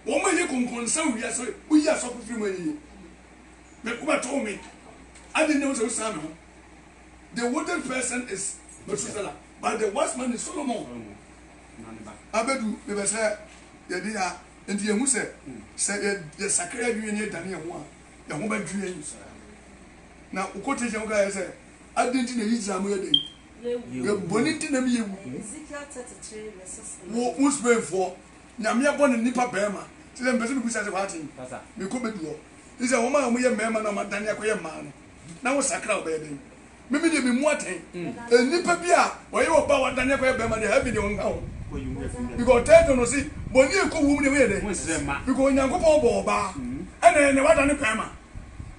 wɔn a ɛyɛ kɔnkɔnsa wɔ wiase woyi asɔfo firi mu ayɛ yie me wobɛtoo me ade nna wo sɛ wosaa me ho the wooden person is Methuselah But the wise man is Solomon. Abedu me bɛ sɛ yɛde ya nti yɛn hu sɛ sɛ yɛ yɛ sakra yɛ dwene ne yɛ dane yɛn ho a yɛn ho bɛ dwe yɛn na wokɔ te yɛn ka yɛ sɛ adi nti na yi gyina mo yɛ den yɛ bɔ ne nti na mi yɛ wu wo wo spain foɔ nyame yɛ bɔ ne nipa bɛrima te sɛ mpɛsɛ mi bu sɛ sɛ wate mi kɔ bɛ duɔ te sɛ wɔn a wɔn yɛ mɛrima na wɔn adane akɔ yɛ mmaa no na wo sakra wɔbɛyɛ den Me me deɛ me mu atɛn. Eh, nipa bi a ɔyɛ wɔ ba wadane akɔyɛ bɛrima deɛ heaven deɛ ɔnka ho. Because third no se bɔne a ɛkɔ wuo mu deɛ woyɛ dɛ. Because Onyankopɔn ɔbɔ ɔbaa ɛna ɛnɛ wadane bɛrima.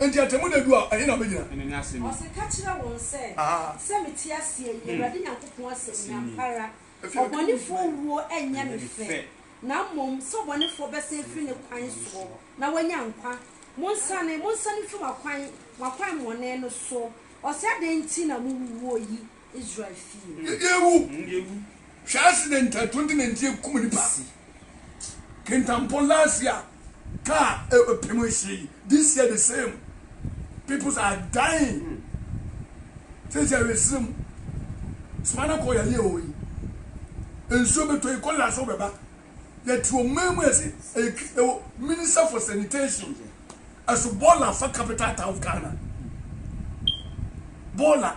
Enti atɛmu da du a ɛhe na wobɛgyina? Ɔse ka kyerɛ wɔn sɛ, sɛ mete aseɛ yi, Awurade Nyankopɔn asɛm ni, ampa ara ɔbɔnefoɔ wuo nyɛ me fɛ. na mmom sɛ ɔbɔnefoɔ bɛsan afiri ne kwan soɔ na wanya nkwa. Monsane, monsane mfiri mo akwan, mo akwan mmɔne no so. Ɔse, Adɛn nti na mowuwuo yi, Israel fie? Yɛde awu! Hwɛ accident a 2019 kum nnipa si Kintampo last year. car ɛpem nhye this year the same peoples are dying sɛ sɛ ɛresere mu spinal cord ayɛ hɔ yi nsuo bɛtɔ yi kɔla so bɛba yɛte ɔman mu ɛse ɛwɔ minister for sanitation ɛso bɔɔla fa capital town of Ghana bɔɔla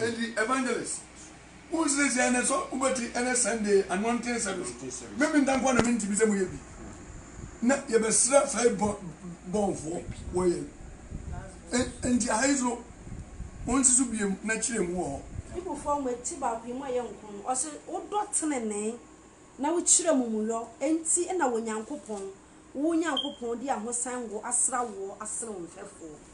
Edi evangelist wo nsiesie ɛnɛ sɔ wo bɛti ɛnɛ Sunday anointing service me minta nkoa na minti bi sɛ mo yɛ bi na yɛ bɛ sra fai bɔ bɔnfoɔ wɔ yɛ enti ahai so wo nsi so biem na kyerɛ mu wɔ hɔ. Bible foɔ mo ɛti baako yi mo ɛyɛ nko no ɔsi wo dɔ tenenee na wo kyerɛ mu mu yɔ enti ɛna wɔ Nyankopɔn wo Nyankopɔn di ahosan ngo asra woɔ asene wo mfɛfoɔ.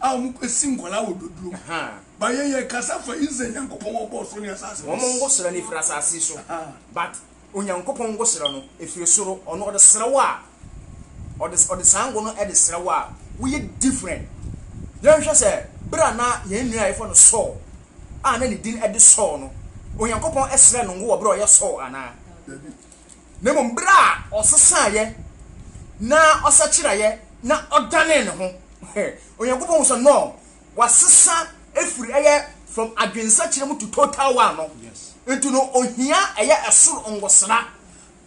a ɔmo kɔ si nkɔlaa wɔ doduro mu but yɛn yɛ kasa fa Israel Nyankopɔn wɔ bɔɔ soro ne asaase no. Wɔn ngosra no firi asaase so but Onyankopɔn ngosra no firi soro ɔno ɔde sra wo a ɔde ɔde saa ngo no de sra wo a woyɛ different yɛn nhwɛ sɛ bere a na yɛn nua a yɛfrɛ no Saul a na ne din de Saul no Onyankopɔn srɛ no ngo wɔ bere a ɔyɛ Saul anaa dabi na mmom bere a ɔsesaeɛ na ɔsakyeraeɛ na ɔdanee ne ho. Onyankopɔn hu sɛ no, wasesa afiri ɛyɛ from adwensakyera mu to total one no. Nti no, ohia ɛyɛ ɛsoro ngosra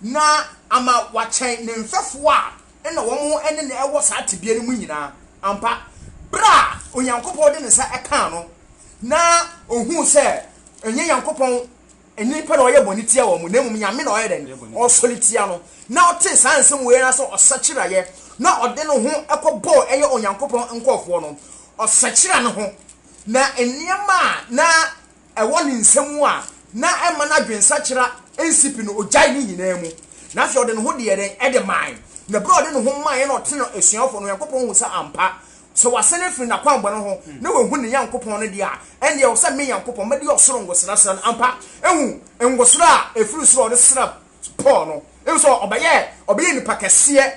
na ama wakyɛn ne mfɛfoɔ a ɛna wɔn ɛne no ɛwɔ saa tebea no mu nyinaa. Ampa, bere a Onyankopɔn de ne nsa ɛkaa no na ohuu sɛ ɛnyɛ Nyankopɔn. Ɛnyɛ nnipa na wɔyɛ bɔne tia wɔn, na mmom Nyame na ɔyɛ dɛn? Ɔsɔre tia no. Na ɔtee saa nsɛm wei ara sɛ ɔsakyeraeɛ, na ɔde ne ho kɔbɔɔ ɛyɛ Onyankopɔn nkurɔfoɔ no, ɔsakyera ne ho, na nneɛma a na ɛwɔ ne nsam a na ɛmma n'adwensakyera nsi pi no, ɔgyae ne nyinaa mu, na afei ɔde ne ho deɛ dɛn? Ɛde mae. Na berɛ a ɔde ne ho maeɛ na ɔtene asuafoɔ no, Onyankopɔn hu sɛ ampa Sɛ wasan afiri n'akwammɔne ho na wahu ne Nyankopɔn no deɛ a, ɛnneɛ ɛwɔ sɛ me Nyankopɔn mɛde ɔsoro ngosra sra no. Ampa, ehu ngosra a ɛfiri soro a ɔde sra Paul no, ehu sɛ ɔbɛyɛ ɔbɛyɛ nipa kɛseɛ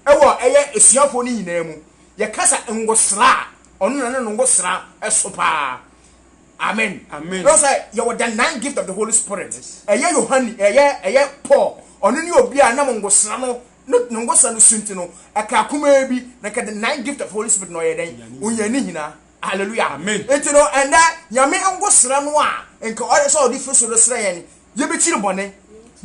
ɛwɔ ɛyɛ asuafoɔ no nyinaa mu. Yɛka sɛ ngosra a, ɔno na ne no ngosra ɛso paa. Amen. Amen. Ɛwɔ sɛ yɛwɔ the nine gift of the Holy Spirit. Ɛyɛ Yohane, ɛyɛ ɛyɛ Paul, ɔno ne obi a nam ngosra no no ne ngɔsa no su nti no ɛkaa kumaa bi na nka the nine gift of holy spirit na ɔyɛ dɛn ɔnya ne nyinaa hallelujah amen nti no ɛnɛ nyame ngɔsra no a nka ɔyɛ sɛ ɔde firi so no srɛ yɛn yɛbɛkyiri bɔne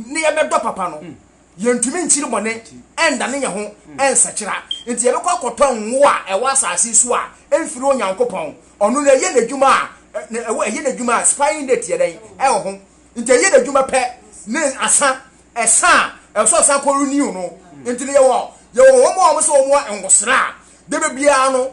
ne yɛbɛdɔ papa no mm. yɛntumi nkyiri bɔne ɛnda ne yɛ ho ɛnsakyera mm. nti yɛbɛkɔ akɔtɔ ngo a ɛwɔ asase so a ɛmfiri onyankopɔn ɔno no ɛyɛ n'adwuma a ɛyɛ n'adwuma a spying date yɛ dɛn ɛwɔ ho nti ɛyɛ n'adwuma pɛ ne asa Ɛsa a, ɛwɔ sɛ ɔsan kɔ renew no. Nti no yɛwɔ yɛwɔ wɔn a wɔn sɛ wɔn wɔ nwosra a, debe biara no,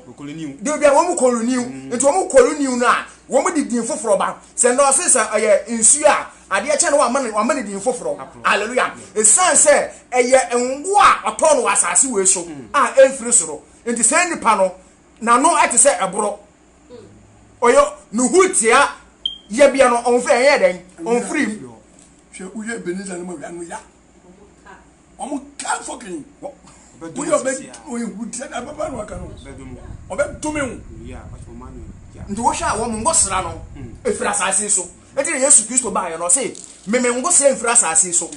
debe biara wɔn kɔ renew. Nti wɔn kɔ renew no a, wɔn de din foforɔ ba. Sɛ nnɛ ɔse sɛ ɛyɛ nsuo a, adeɛ kyɛ no wɔama no wɔama no din foforɔ. Hallelujah. Ɛsan sɛ ɛyɛ ngo a ɔtɔɔ no wɔ asase wei so a ɛmfiri soro. Nti saa nipa no, n'ano te sɛ ɛboro. Ɔyɛ ne ho tia yɛbea no, ɔmfiri ɛyɛ dɛn? Ɔmfiri mu. Hwɛ wo hwɛ Ebenezer ne mawia no ya. Wɔn ka fɔkin wɔ wo yɛ ɔbɛ ehu tiɛ na bɛba no aka no ɔbɛ dome wo. Nti wohwɛ a wɔn ngosra no efiri asase so eti na Yesu Kristo baa yɛ no ɔse meme ngosra nfiri asase so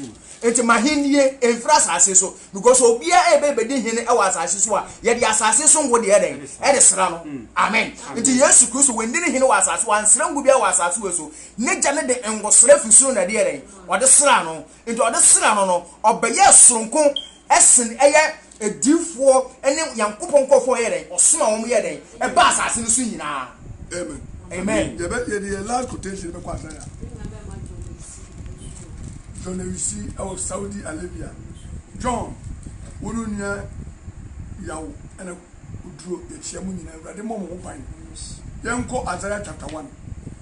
nti mahennie nfiri asase so because obia ebe ebedi hene ɛwɔ asase so a yɛde asase so ngo deɛ dɛn ɛde sra no amen nti Yesu Kristo wendini hene wɔ asase wɔ ansra ngo bia wɔ asase wɔ so N'agya no de ngo sra firi soro na ɛde yɛɛ dɛn? Ɔde sraa no. Enti ɔde sraa no no, ɔbɛyɛɛ soronko sen ɛyɛ adiyifoɔ ne Nyankopɔn nkurɔfoɔ a ɔyɛɛ dɛn? Ɔsomaa wɔn yɛɛ dɛn? Ɛbaa asase no so nyinaa. Amen. Amen. Yɛbɛ yɛde yɛn last quotation bɛkɔ adan a. John Ewisi ɛwɔ Saudi Arabia. John, wo ne onua Yaw ɛna oduro yɛkyia mo nyinaa. Awurade mmɔ mo ho ban. Yɛnkɔ Isaiah chapter one.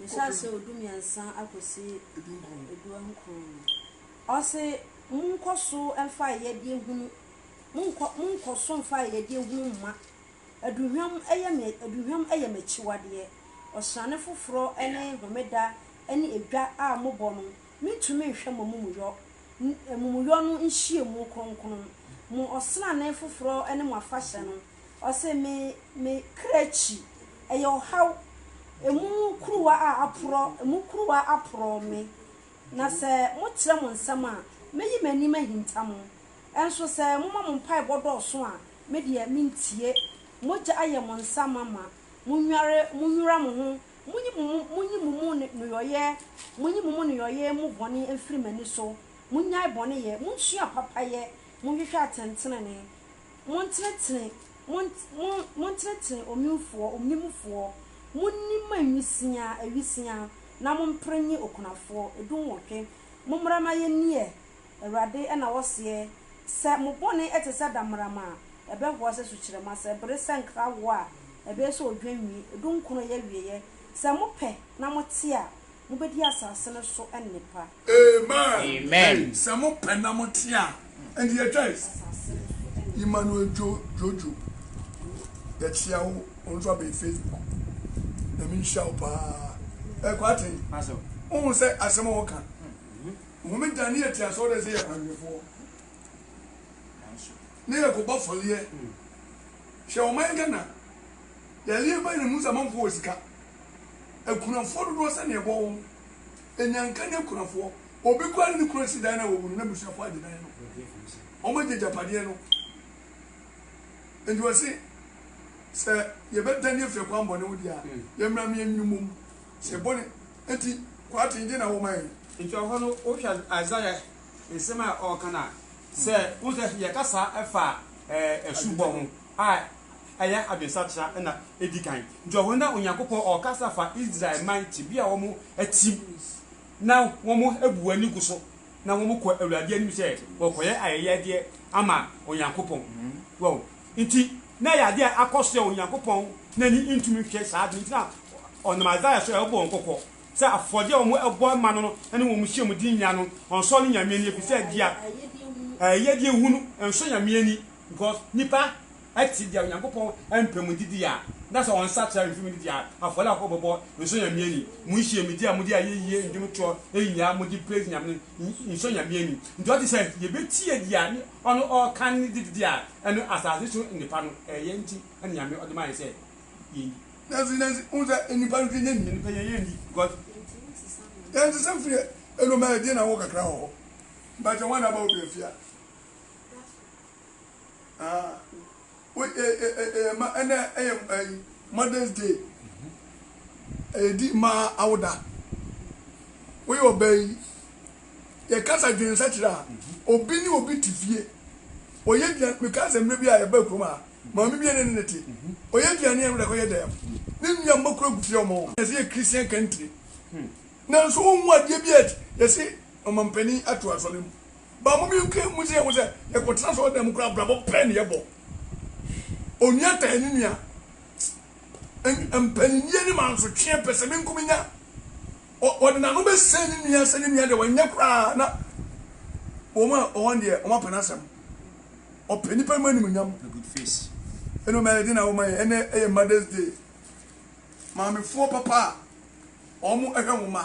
Nhyɛaseɛ ɔdumiɛnsa akɔsi aduɔnkron no, ɔse, Monkɔso mfa ayɛdeɛ hunu, monkɔ, monkɔso mfa ayɛdeɛ hunu mma. Aduhwam yɛ me, aduhwam yɛ m'akyiwadeɛ. Ɔsrane foforɔ ne Homeda ne edwa a mobɔ no, mentumi nhwɛ mo amumuyɔ, amumuyɔ no nhyiamu kronkron, mo ɔsrane foforɔ ne mo afahyɛ no. Ɔse me me kra akyi ɛyɛ ɔhaw Emu kuruwa a aporɔ emu kuruwa aporɔ me Na sɛ mo kyerɛ mo nsɛm a mɛyi m'anim ahinta mo Nso sɛ moma mo mpaebɔ dɔɔso a me deɛ mentie Mogya ayɛ mo nsa ma ma monware monwira mo ho Monyi mo mo monyi mo mo nnoyɔeɛ monyi mo mo nnoyɔeɛ mu bɔne mfiri m'ani so Monnyae bɔne yɛ monsua papa yɛ Monhwehwɛ atɛntenenee Montenetene, mon, mon, montenetene onwemfoɔ, onwemfoɔ, monni mo awisiaa, awisiaa, na mompere nnye okunafoɔ. Du nwɔtwe. Mommra ma yɛnniɛ, Awurade na ɔseɛ, sɛ mo bɔne te sɛ dammarama a, ɛbɛhoa sɛ sukyerɛmma, sɛ ɛbere sɛ nkrawoɔ a, ɛbɛyɛ sɛ odwan nwi. Du nkron yɛ awieɛ. Sɛ mopɛ na mote a, mobɛdi asase no so nnepa. Amen. Sɛ mo pɛ na mo te a. And yɛ twa is. Emmanuel jo jojo. Yɛ kyia wo. Wɔn nso abɛn Facebook. Na mi nhyia wo paa. Ɛkɔ aten. Ohun sɛ asɛm a wɔka. Nhome da ne yɛ te asɔre dɛ sɛ yɛ kwanhwɛfoɔ. Ne yɛ kɔ bɔ fɔleɛ. Hyɛ wɔn ayɛ Ghana. Yɛ leɛ bɛn na mu sɛ amanfoɔ wɔ sika. Akunafoɔ dodoɔ sɛ ne ɛbɔ wɔn. Enyanka ne akunafoɔ. Obi koraa ne ne kunu ansi dan no a wawu no, n'abusuafoɔ agye dan no. Wɔagye agyapadeɛ no. Enti wɔse, Sɛ yɛbɛdane afiri akwammɔne ho deɛ a, yɛmmra mmea nnwene mmom. Sɛ bɔne nti kwati nti na wɔma yɛn. Enti wɔ hɔ no, wohwɛ Isaiah nsɛm a ɔreka no a, sɛ wohu sɛ yɛkasa fa asubɔ ho, a ɛyɛ adwensakyera na edi kan. Nti ɛhɔ na Onyankopɔn ɔɔkasa fa Israel man tebea a wɔn atim na wɔn abu wɔn ani gu so na wɔn kɔ Awurade anim sɛ wɔrekɔyɛ ayɛyɛdeɛ ama Onyankopɔn. Wɔn nti na ɛyɛ adeɛ a akɔ so a Onyankopɔn n'ani ntumi nhwɛ saa adeɛ nti na ɔnam Isaiah so ɛrebɔ wɔn kɔkɔ sɛ afɔdeɛ a wɔn ɛbɔ ma no no ne wɔn hyia mu de nya no ɔnsɔ ne Nyame ani efisɛ deɛ ayɛyɛdeɛ hunu nsɔ Nyame ani. Because nnipa te deɛ Onyankopɔn mpɛ mu didie a, na sɛ wɔnsakyera mfiri mu didie a, afɔre a wɔbɛbɔ nsɔ Nyame ani. Monhyiam medi a mode ayɛyie nnwom toɔ nyinaa mode praise Nyame no nsɔ Nyame ani. Nti ɔte sɛ yɛbɛtie deɛ ɔno ɔɔka ne didie a ɛno asase so nnipa no ɛɛyɛ nti na Nyame ɔde ma yɛn sɛ yɛndi. Nanso nanso wohu sɛ nnipa no hwɛ nyɛ nea nnipa yɛ yɛndi because yɛnsesa mfiri ɛno ma yɛdeɛ na wɔ kakra wɔ hɔ mpakyɛ wɔn na aba wo brɛ fie a. Ah, wo eh, eh, eh, eh, eh, ma ɛnɛ ɛyɛ eh, eh, eh, Mother's Day. Ɛyɛdi eh, mmaa awoda. Woyɛ ɔbaa yi, yɛkasa dwen sɛkyerɛ a, obi ne obi te fie. Ɔyɛ aduane, mekaa sɛ mmerɛ bi a yɛba kurom a, maame bi ne ne te. Ɔyɛ aduane a ɛwura kɔyɛ dɛm. Ne nua mma kura gu fie ɔmo. Yɛsɛ yɛ Christian country. Nanso wohu adeɛ bi a yɛsɛ ɔmampanin ato asɔre mu. But mo bi kura mo sɛ mo sɛ yɛkɔ tena sɔɔ dɛm kura abrabɔ pɛɛ ne yɛ bɔ. Onua tan ne nua. Mpaninnie ne mansotweɛ pɛ sɛ me nko me nya. Ɔde n'ano bɛ sɛn ne nua sɛ ne nua deɛ wɔnyɛ koraa na wɔn a wɔn deɛ wɔn apɛ n'asɛm. Ɔpɛ nipa mu anim nyam. The good face. Ɛnu mɛ ɛdi na wɔn ayɛ ɛnɛ ɛyɛ Mother's Day. Maamefoɔ papa a wɔn ɛhwɛ wɔn ma.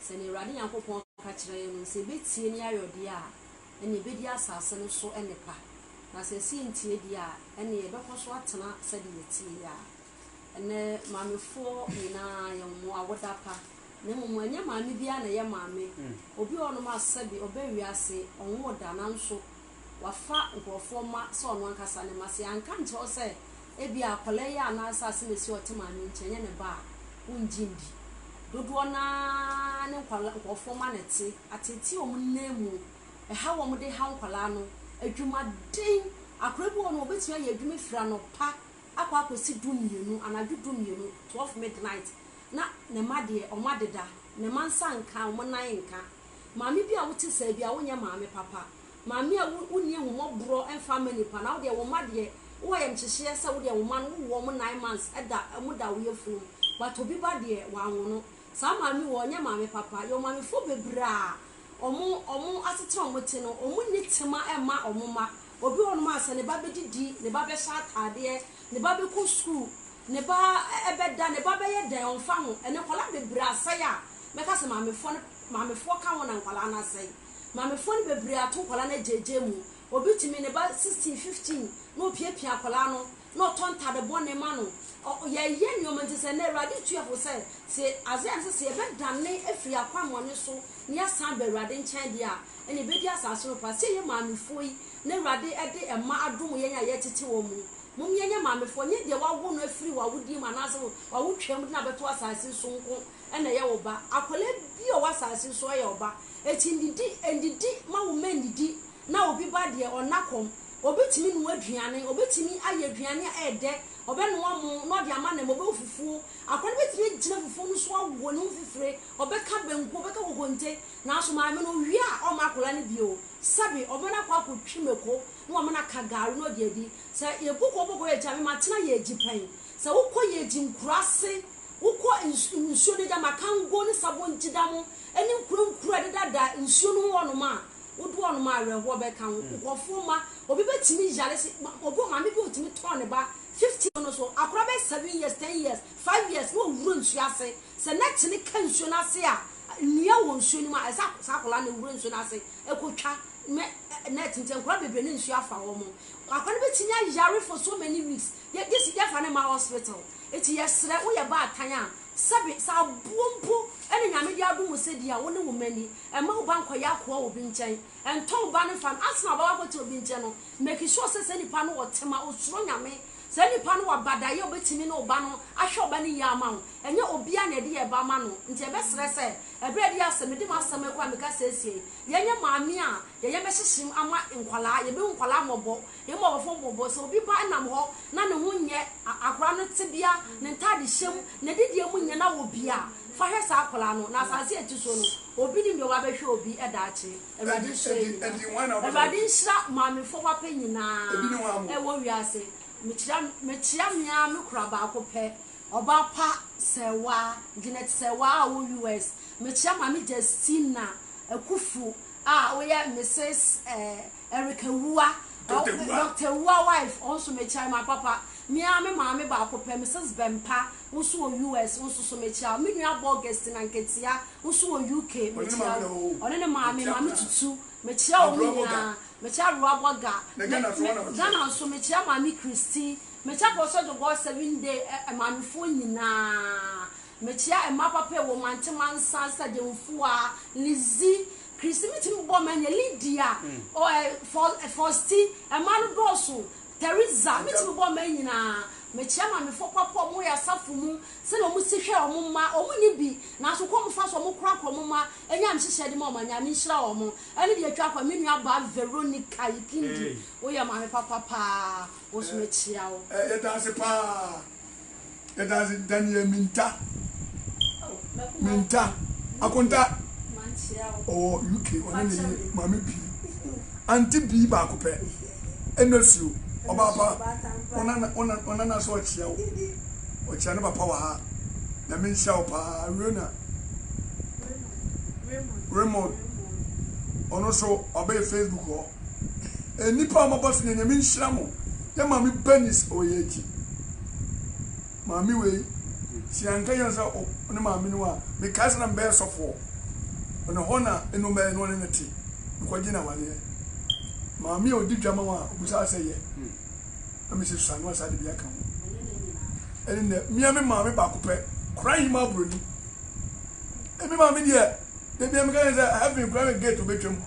Sɛ nea Awurade Nyankopɔn ka kyerɛ yɛn no, sɛ ebetie ne ayɔdeɛ a, ɛnneɛ ebedi asase no so nnepa, na sɛ ɛse entie deɛ a, ɛnneɛ yɛbɛkɔ so atena sɛdeɛ yɛteɛ yi ara. Ɛnnɛ, maamefoɔ nyinaa, yɛn mo awoda pa, na mmom ɛnyɛ maame biara na ɛyɛ maame. Obi wɔ hɔnom a sɛbe ɔba wiase, ɔnwoo da, nanso wafa nkurɔfoɔ mma sɛ ɔno ankasa ne mma. Sɛ yɛanka ankyerɛ wo sɛ ebia akwadaa yi a na asase na esi a ɔte maame nkyɛn nyɛ ne ba a, wongye ndi. Dodoɔ no ara ne nkwadaa nkurɔfoɔ mma na ɛte, ateetee wɔn nan mu, ɛha wɔn de haw nkwadaa no. Adwumaden, akwadaa bi wɔ hɔ no, wɔbɛtumi ayɛ adwuma afiri anɔpa akɔ akɔsi du mmienu, anadwo du mmienu, twelve midnight, na ne mma deɛ, wɔadeda, ne mma nsa nka, wɔn nan nka. Maame bi a wote saa biara, wonyɛ maame papa. Maame a wonni ahummɔborɔ mfa mma nnipa, na wo deɛ wo mma deɛ, wowɔ ayamkyehyeɛ sɛ wo deɛ wo mma no wowɔ wɔn nine months da wɔn da wo yafunu mu, but obi ba deɛ wanwono. Saa maame wei ɔnyɛ maame papa. Yɛwɔ maamefoɔ bebree a wɔn asetena a wɔte no, wɔnni tema mma wɔn mma. Obi wɔ hɔ nom a sɛ ne ba bɛdidi, ne ba bɛhyɛ ataadeɛ, ne ba bɛkɔ sukuu, ne ba bɛda, ne ba bɛyɛ dɛn ɔmfa ho. Ɛnnɛ nkwadaa bebree asɛe a mɛka sɛ maamefoɔ no, maamefoɔ ka ho na nkwadaa no asɛe. Maamefoɔ no bebree ato nkwadaa no agyaagyaa mu. Obi tumi ne ba 16, 15 na ɔpiapia akwadaa no na ɔtɔ ntade bɔne ma no. Ɔ ɔ yɛyɛ nneɛma nti sɛ nnɛ Awurade tua fo sɛ, sɛ Isaiah no sɛ, sɛ yɛbɛdane afiri yɛn akwammɔne so na yɛasan aba Awurade nkyɛn deɛ a, ɛnna yɛbɛdi asase no pa. Sɛ yɛyɛ maamefoɔ yi na Awurade de mma adom yɛn a yɛretete wɔn yi, mom yɛnyɛ maamefoɔ. Ɛnyɛ deɛ wɔawo no afiri w'awodeɛ mu anaasɛ wo w'awotwaa mu de no abɛto asase yi so nko na ɛyɛ wo ba. Akwadaa biara a ɔwɔ asase yi so yɛ wo ba. Enti ndidi, ndidi, mma wo mma nnidi, na obi ba deɛ ɔnna kɔm. Ɔbɛtumi noa aduane, ɔbɛtumi ayɛ aduane a ɛyɛ dɛ, ɔbɛnoa mo na ɔde ama nam, ɔbɛwɔ fufuo. Akwadaa no bɛtumi agyina fufuo no so awɔ ne ho fifire, ɔbɛka banku, ɔbɛka kokonte. Nanso maame no ɔwie a, ɔremma akwadaa no bio. Sɛbe, ɔbɛma no akɔ akɔtwi mako na wama no aka gari na ɔde adi. Sɛ yɛbu kɔ bɔkɔ yɛgyi a, me matena yɛgyi pɛn. Sɛ wokɔ yɛgyi nkuraase, wokɔ nsu nsuo no agya, Makango ne Sabon Gyi dam ne nkuraa nkuraa a ɛdedada nsuo no ho hɔnom a, Wo dɔ no ma awerɛhoɔ bɛka wo. Nkorɔfoɔ mma, obi bɛtumi yare se, obi wɔ maame bi a ɔtumi tɔɔ ne ba 50 no so, akwadaa bɛyɛ 7 years, 10 years, 5 years na wawura nsuo ase. Sɛ net no ka nsuo no ase a, nnua wɔ nsuo no mu a, ɛsɛ sɛ saa akwadaa no wura nsuo no ase kɔtwa net nti nkwadaa bebree na nsuo afa wɔn. Akwadaa no bɛtumi ayare for so many weeks, gyesi yɛfa no mma hospital. Nti yɛsrɛ, woyɛ baatan a, sɛbe, sɛ aboɔ mpo ne Nyame de adom wo sɛ di a, wo ne wo mma nni. Mma wo ba nkɔyɛ akoa wɔ obi nkyɛn. Ntɔn wo ba no mfa no. Ansa na ɔbɛba akɔtena obi nkyɛn no, make sure sɛ saa nipa no ɔtema, osuro Nyame. Saa nipa no waba daeɛ a obɛtumi ne wo ba no ahwɛ wo ba no yie ama wo. Ɛnyɛ obiara na yɛde yɛn ba ma no. Nti yɛbɛsrɛ sɛ, ɛberɛ a ɛde yɛ asɛ, mede m'asɛm yi kora meka seesei, yɛnyɛ maame a yɛn yam bɛhyehyem ama nkwadaa, yɛbɛhu nkwadaa mmɔbɔ, Mmom ɔfom bo bo. Sɛ obi ba nam hɔ na ne ho nyɛ, akwadaa no tebea, ne ntadehyɛ mu, n'adidie mu nyɛ na wɔ bi a, fa hwɛ saa akwadaa no. Na asase a ɛte soɔ no, obi nim deɛ wabɛhwɛ obi daakye. Awurade nhyira yɛn nyinaa. Awurade nhyira maamefoɔ wapɛ nyinaa wɔ wiase. Mekyira mekyia me ara me kora baako pɛ, ɔbaa pa Sewaa, Janet Sewaa a ɔwɔ US. Mekyia Maame Justina Akufu a woyɛ Mrs. Eric Awuah, Doctor Awuah wife, wo nso mekyia wo, m'apapa. Me ara me maame baako pɛ, Mrs. Bɛmpa, wo nso wɔ US, wo nso so mekyia wo. Me nua abɔ Augustine Anketia, wo nso wɔ UK, mekyia wo. Ɔne ne maame, Maame Tutu, mekyia wɔn nyinaa. Mekyia Awewa Bɔga, Ghana nso mekyia Maame Christie, mekyia Professor Dogor Seven Day, eh, eh, maamefoɔ nyinaa. Mekyia mma papa ewɔ mantse mansa Sademfua, Lizzy, Christy metumi bobɔ ma nyɛ Lydia, ɔ ɛ fɔ ɛ Fɔsti, mma no dɔɔso, Theresa metumi bobɔ ma nyina. Mekyia mamefo papa a wɔwɔ yɛ asafo mu sɛdeɛ wɔn si hwɛ wɔn mma, wɔn nni bi nanso kwan wɔn fa so wɔn kora kora wɔn mma nya nhyehyɛ de ma wɔn a Nyame nhyira wɔn. Ɛne deɛ ɛtwa kɔ, me nua baa Veronica Ikindi wo yɛ maame papa paa wo nso mekyia wo. Yɛda ase paa. yɛda ase daniel minta minta akonta ɔwɔ uk ɔne ne yere maame bii anti bii baako pɛ ɛna suo ɔbaapa ɔnana so ɔkyea wo ɔkyea ne papa wɔ ha nyame nhyira wo paa rena raymond ɔno so ɔbɛyɛ facebook hɔ Nnipa a wɔaba so nyɛ Nyame nhyira mo. Yɛ maame Bernice Oyeji. Maame wei sɛ yɛanka yɛn sɛ ne maame no a mekae sɛ na mebɛyɛ sɔfoɔ. Ɔne hɔ na ɛnom bɛyɛ no ɔne ne te. Mekɔgye no awadeɛ. Maame a ɔdi dwa ma wo a ɔbusaa sɛ yɛ. Na mese sua no asa de bi aka ho. Ɛne nɛ mea me maame baako pɛ kora yi ma aburoni. Ɛme maame deɛ Da biara meka ne sɛ heaven koraa na gate wobɛtwa mu.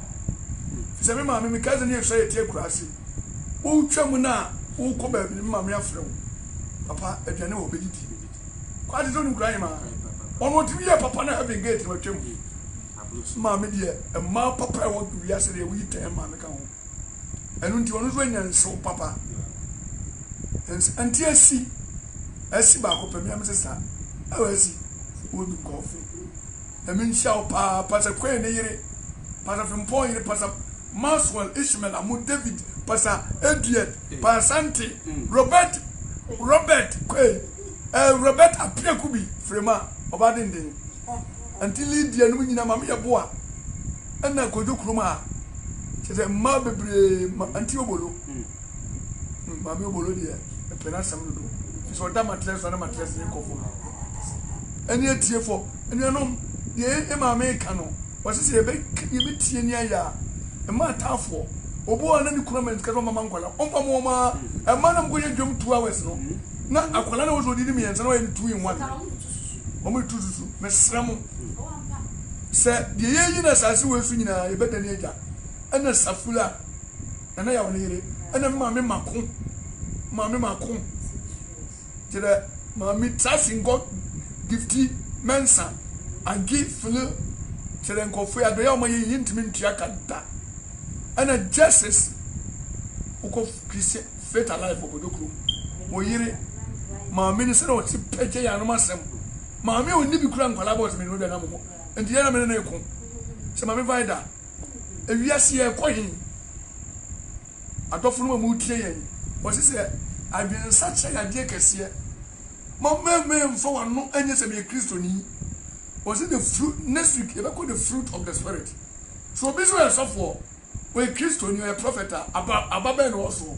Ɛfiri sɛ me maame, me cousin yɛ sua yɛte akuraase. Wotwa mu no a wokɔ baabi no me maame afrɛ wo. Papa aduane wɔ hɔ bɛdidi. Kɔ ate sɛ wonim kura hema. Ɔno ɔtumi yɛ papa na heaven gate no watwa mu. Maame deɛ mmaa papa ɛwɔ wiase deɛ woyi tɛn maame ka ho. Ɛno nti ɔno nso anya nsew papa. Nti asi asi baako pɛ me a me sesa. Ɛwɔ asi wɔ dum kɔɔfe. Nyame nhyira wo paa Pastor Quaye ne yere, Pastor Frimpong yere, Pastor Maxwell, Ishmael Amu, David, Pastor Edward, Pa Asante, Robert, Robert Quaye, eh, Robert Appiah Kubi, Frema, ɔbaa denden, Auntie Lydia nom nyina, Maame Yeboah, ɛna Kojo Krumah, kyerɛ sɛ mmaa bebree, Auntie Obolo. Maame Obolo deɛ ɛpɛ n'asɛm dodo nti sɛ ɔda matrɛs so a na matrɛs no rekɔ fam. Ɛne atiefo anuanom deɛ yɛ maame reka no wɔsɛ sɛ yɛbɛka deɛ yɛbɛtie ne ayɛ a ɛma ataafoɔ obi wɔ a na ne kunu ama ne sika sɛ ɔmama nkwadaa ɔmfa mo ɔma ɛma na mokɔyɛ adwam two hours no na akwadaa na wɔ sɛ ɔdi ne mmiɛnsa na wɔyɛ no two in one wɔn de tu susu mesrɛ mo sɛ deɛ yɛyi no asase wɔ so nyinaa yɛbɛda ne agya ɛna safula Nana Yaw ne yere ne me maame mako. Maame mako gyerɛ maame Tracy Nkɔ Gifty Mensa Angie Fili kyerɛ nkurɔfoɔ yi adɔyɛ a wɔayɛ yi yɛntumi ntua ka da. Ɛna Justice wokɔ Christian Faith Alive wɔ Bojo kurom. Wɔ yere maame ne sɛdeɛ ɔte pɛ gye yɛ anom asɛm. Maame a ɔnni bi kura nkwadaa bɔ ɔtumi ne ɔdwa nam hɔ. Nti yɛn na me ne ne ko. Sɛ maame Vida Ewiase yi ɛrekɔ he? Adɔfonom a motie yɛn, wɔse sɛ adwensakyera yɛ adeɛ kɛseɛ. Mommɛmmɛn mfa w'ano nyɛ sɛ meyɛ Kristoni. Wɔse the fruit, next week yɛbɛkɔ the fruit of the spirit. So obi sɛ ɔyɛ sɔfoɔ, ɔyɛ Kristoni, ɔyɛ prɔfɛt a, aba aba bɛn na ɔwɔ soɔ?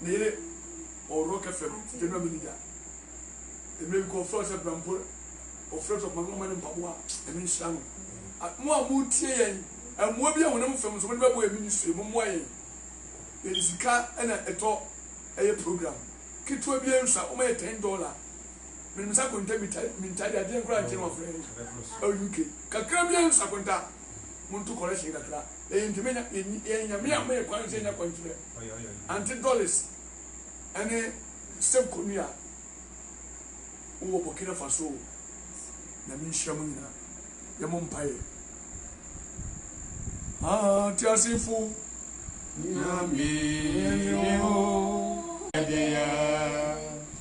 ne yere ɔworɔ kɛ fam gyɛ bra mini da ɛmɛ bi kɔ ɔfrɛ sɛ bra mpo ɔfrɛ sɛ ɔma ne mpaboa ɛno nhyira no mo a mo tie yɛn mmoa bi a honam fam nso mo de bɛbɔ yɛn ministry mo mmoa yɛn yɛde sika ɛna ɛtɔ ɛyɛ program ketewa bi nsa wɔn yɛ ten dollar menim sɛ akonta minta de adeɛ nkora nkyɛn wɔn afrɛ ɛwɔ uk kakra bi nsa akonta mo nto correction kakra yɛn ntoma yɛn nyame a mo yɛ kwan sɛ yɛn akwankyerɛ Aunty Doris ne Seb Kony a wowɔ Burkina Faso o, Nyame nhyira mo nyina. Yɛmmɔ mpaeɛ. Ateasefo Nyame ne o, ɛdeɛ.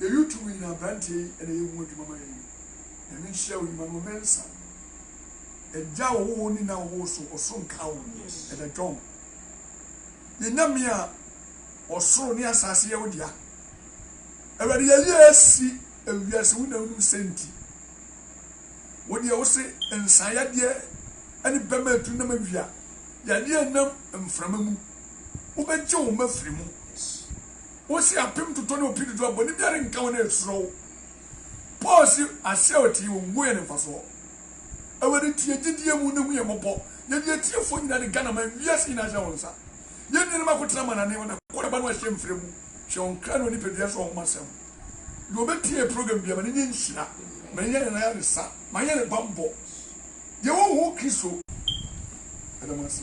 Yɛyɛ tumi nyina abranteɛ yi na yɛ ho adwuma ma yɛn Nyame nhyira wo nyuma no wɔ mensa Agya ɔwɔ hɔ ni na ɔwɔ wo so ɔsoro nka wo Ɛda John yɛ Nyame a ɔsoro ne asase yɛ wo dea Awurade yɛyɛ asi ewiase wo na wonim sɛ nti wo deɛ wo se nsa yadeɛ ɛne bɛma atu nam awia yadeɛ nam mframa mu wobɛgye wo ma firi mu wosi apem totɔ ne opi totɔ a, bɔne biara renka wo na ɛsuro wo. Paul se, Ase a ɔtee wɔn ngu yɛ ne mfasoɔ. Awurade tie gyedie mu na hu yɛn mmɔbɔ. Yɛde yɛn atiefoɔ nyinaa de Ghanaman, wiase nyinaa hyɛ wɔn nsa. Yɛn nuanom akotena amanane, wɔn akɔ naba na wɔahyɛ mfrɛ mu, hyɛ wɔn kra ne wɔn nipadua nso ɔhoma sɛm. Deɛ ɔbɛtie yɛn program biara, ma no nyɛ nhyira, ma yɛnyɛ ne nan ayaresa, ma yɛnyɛ ne banbɔ. Yɛn ho ho Kristo. Ɛda mo ase.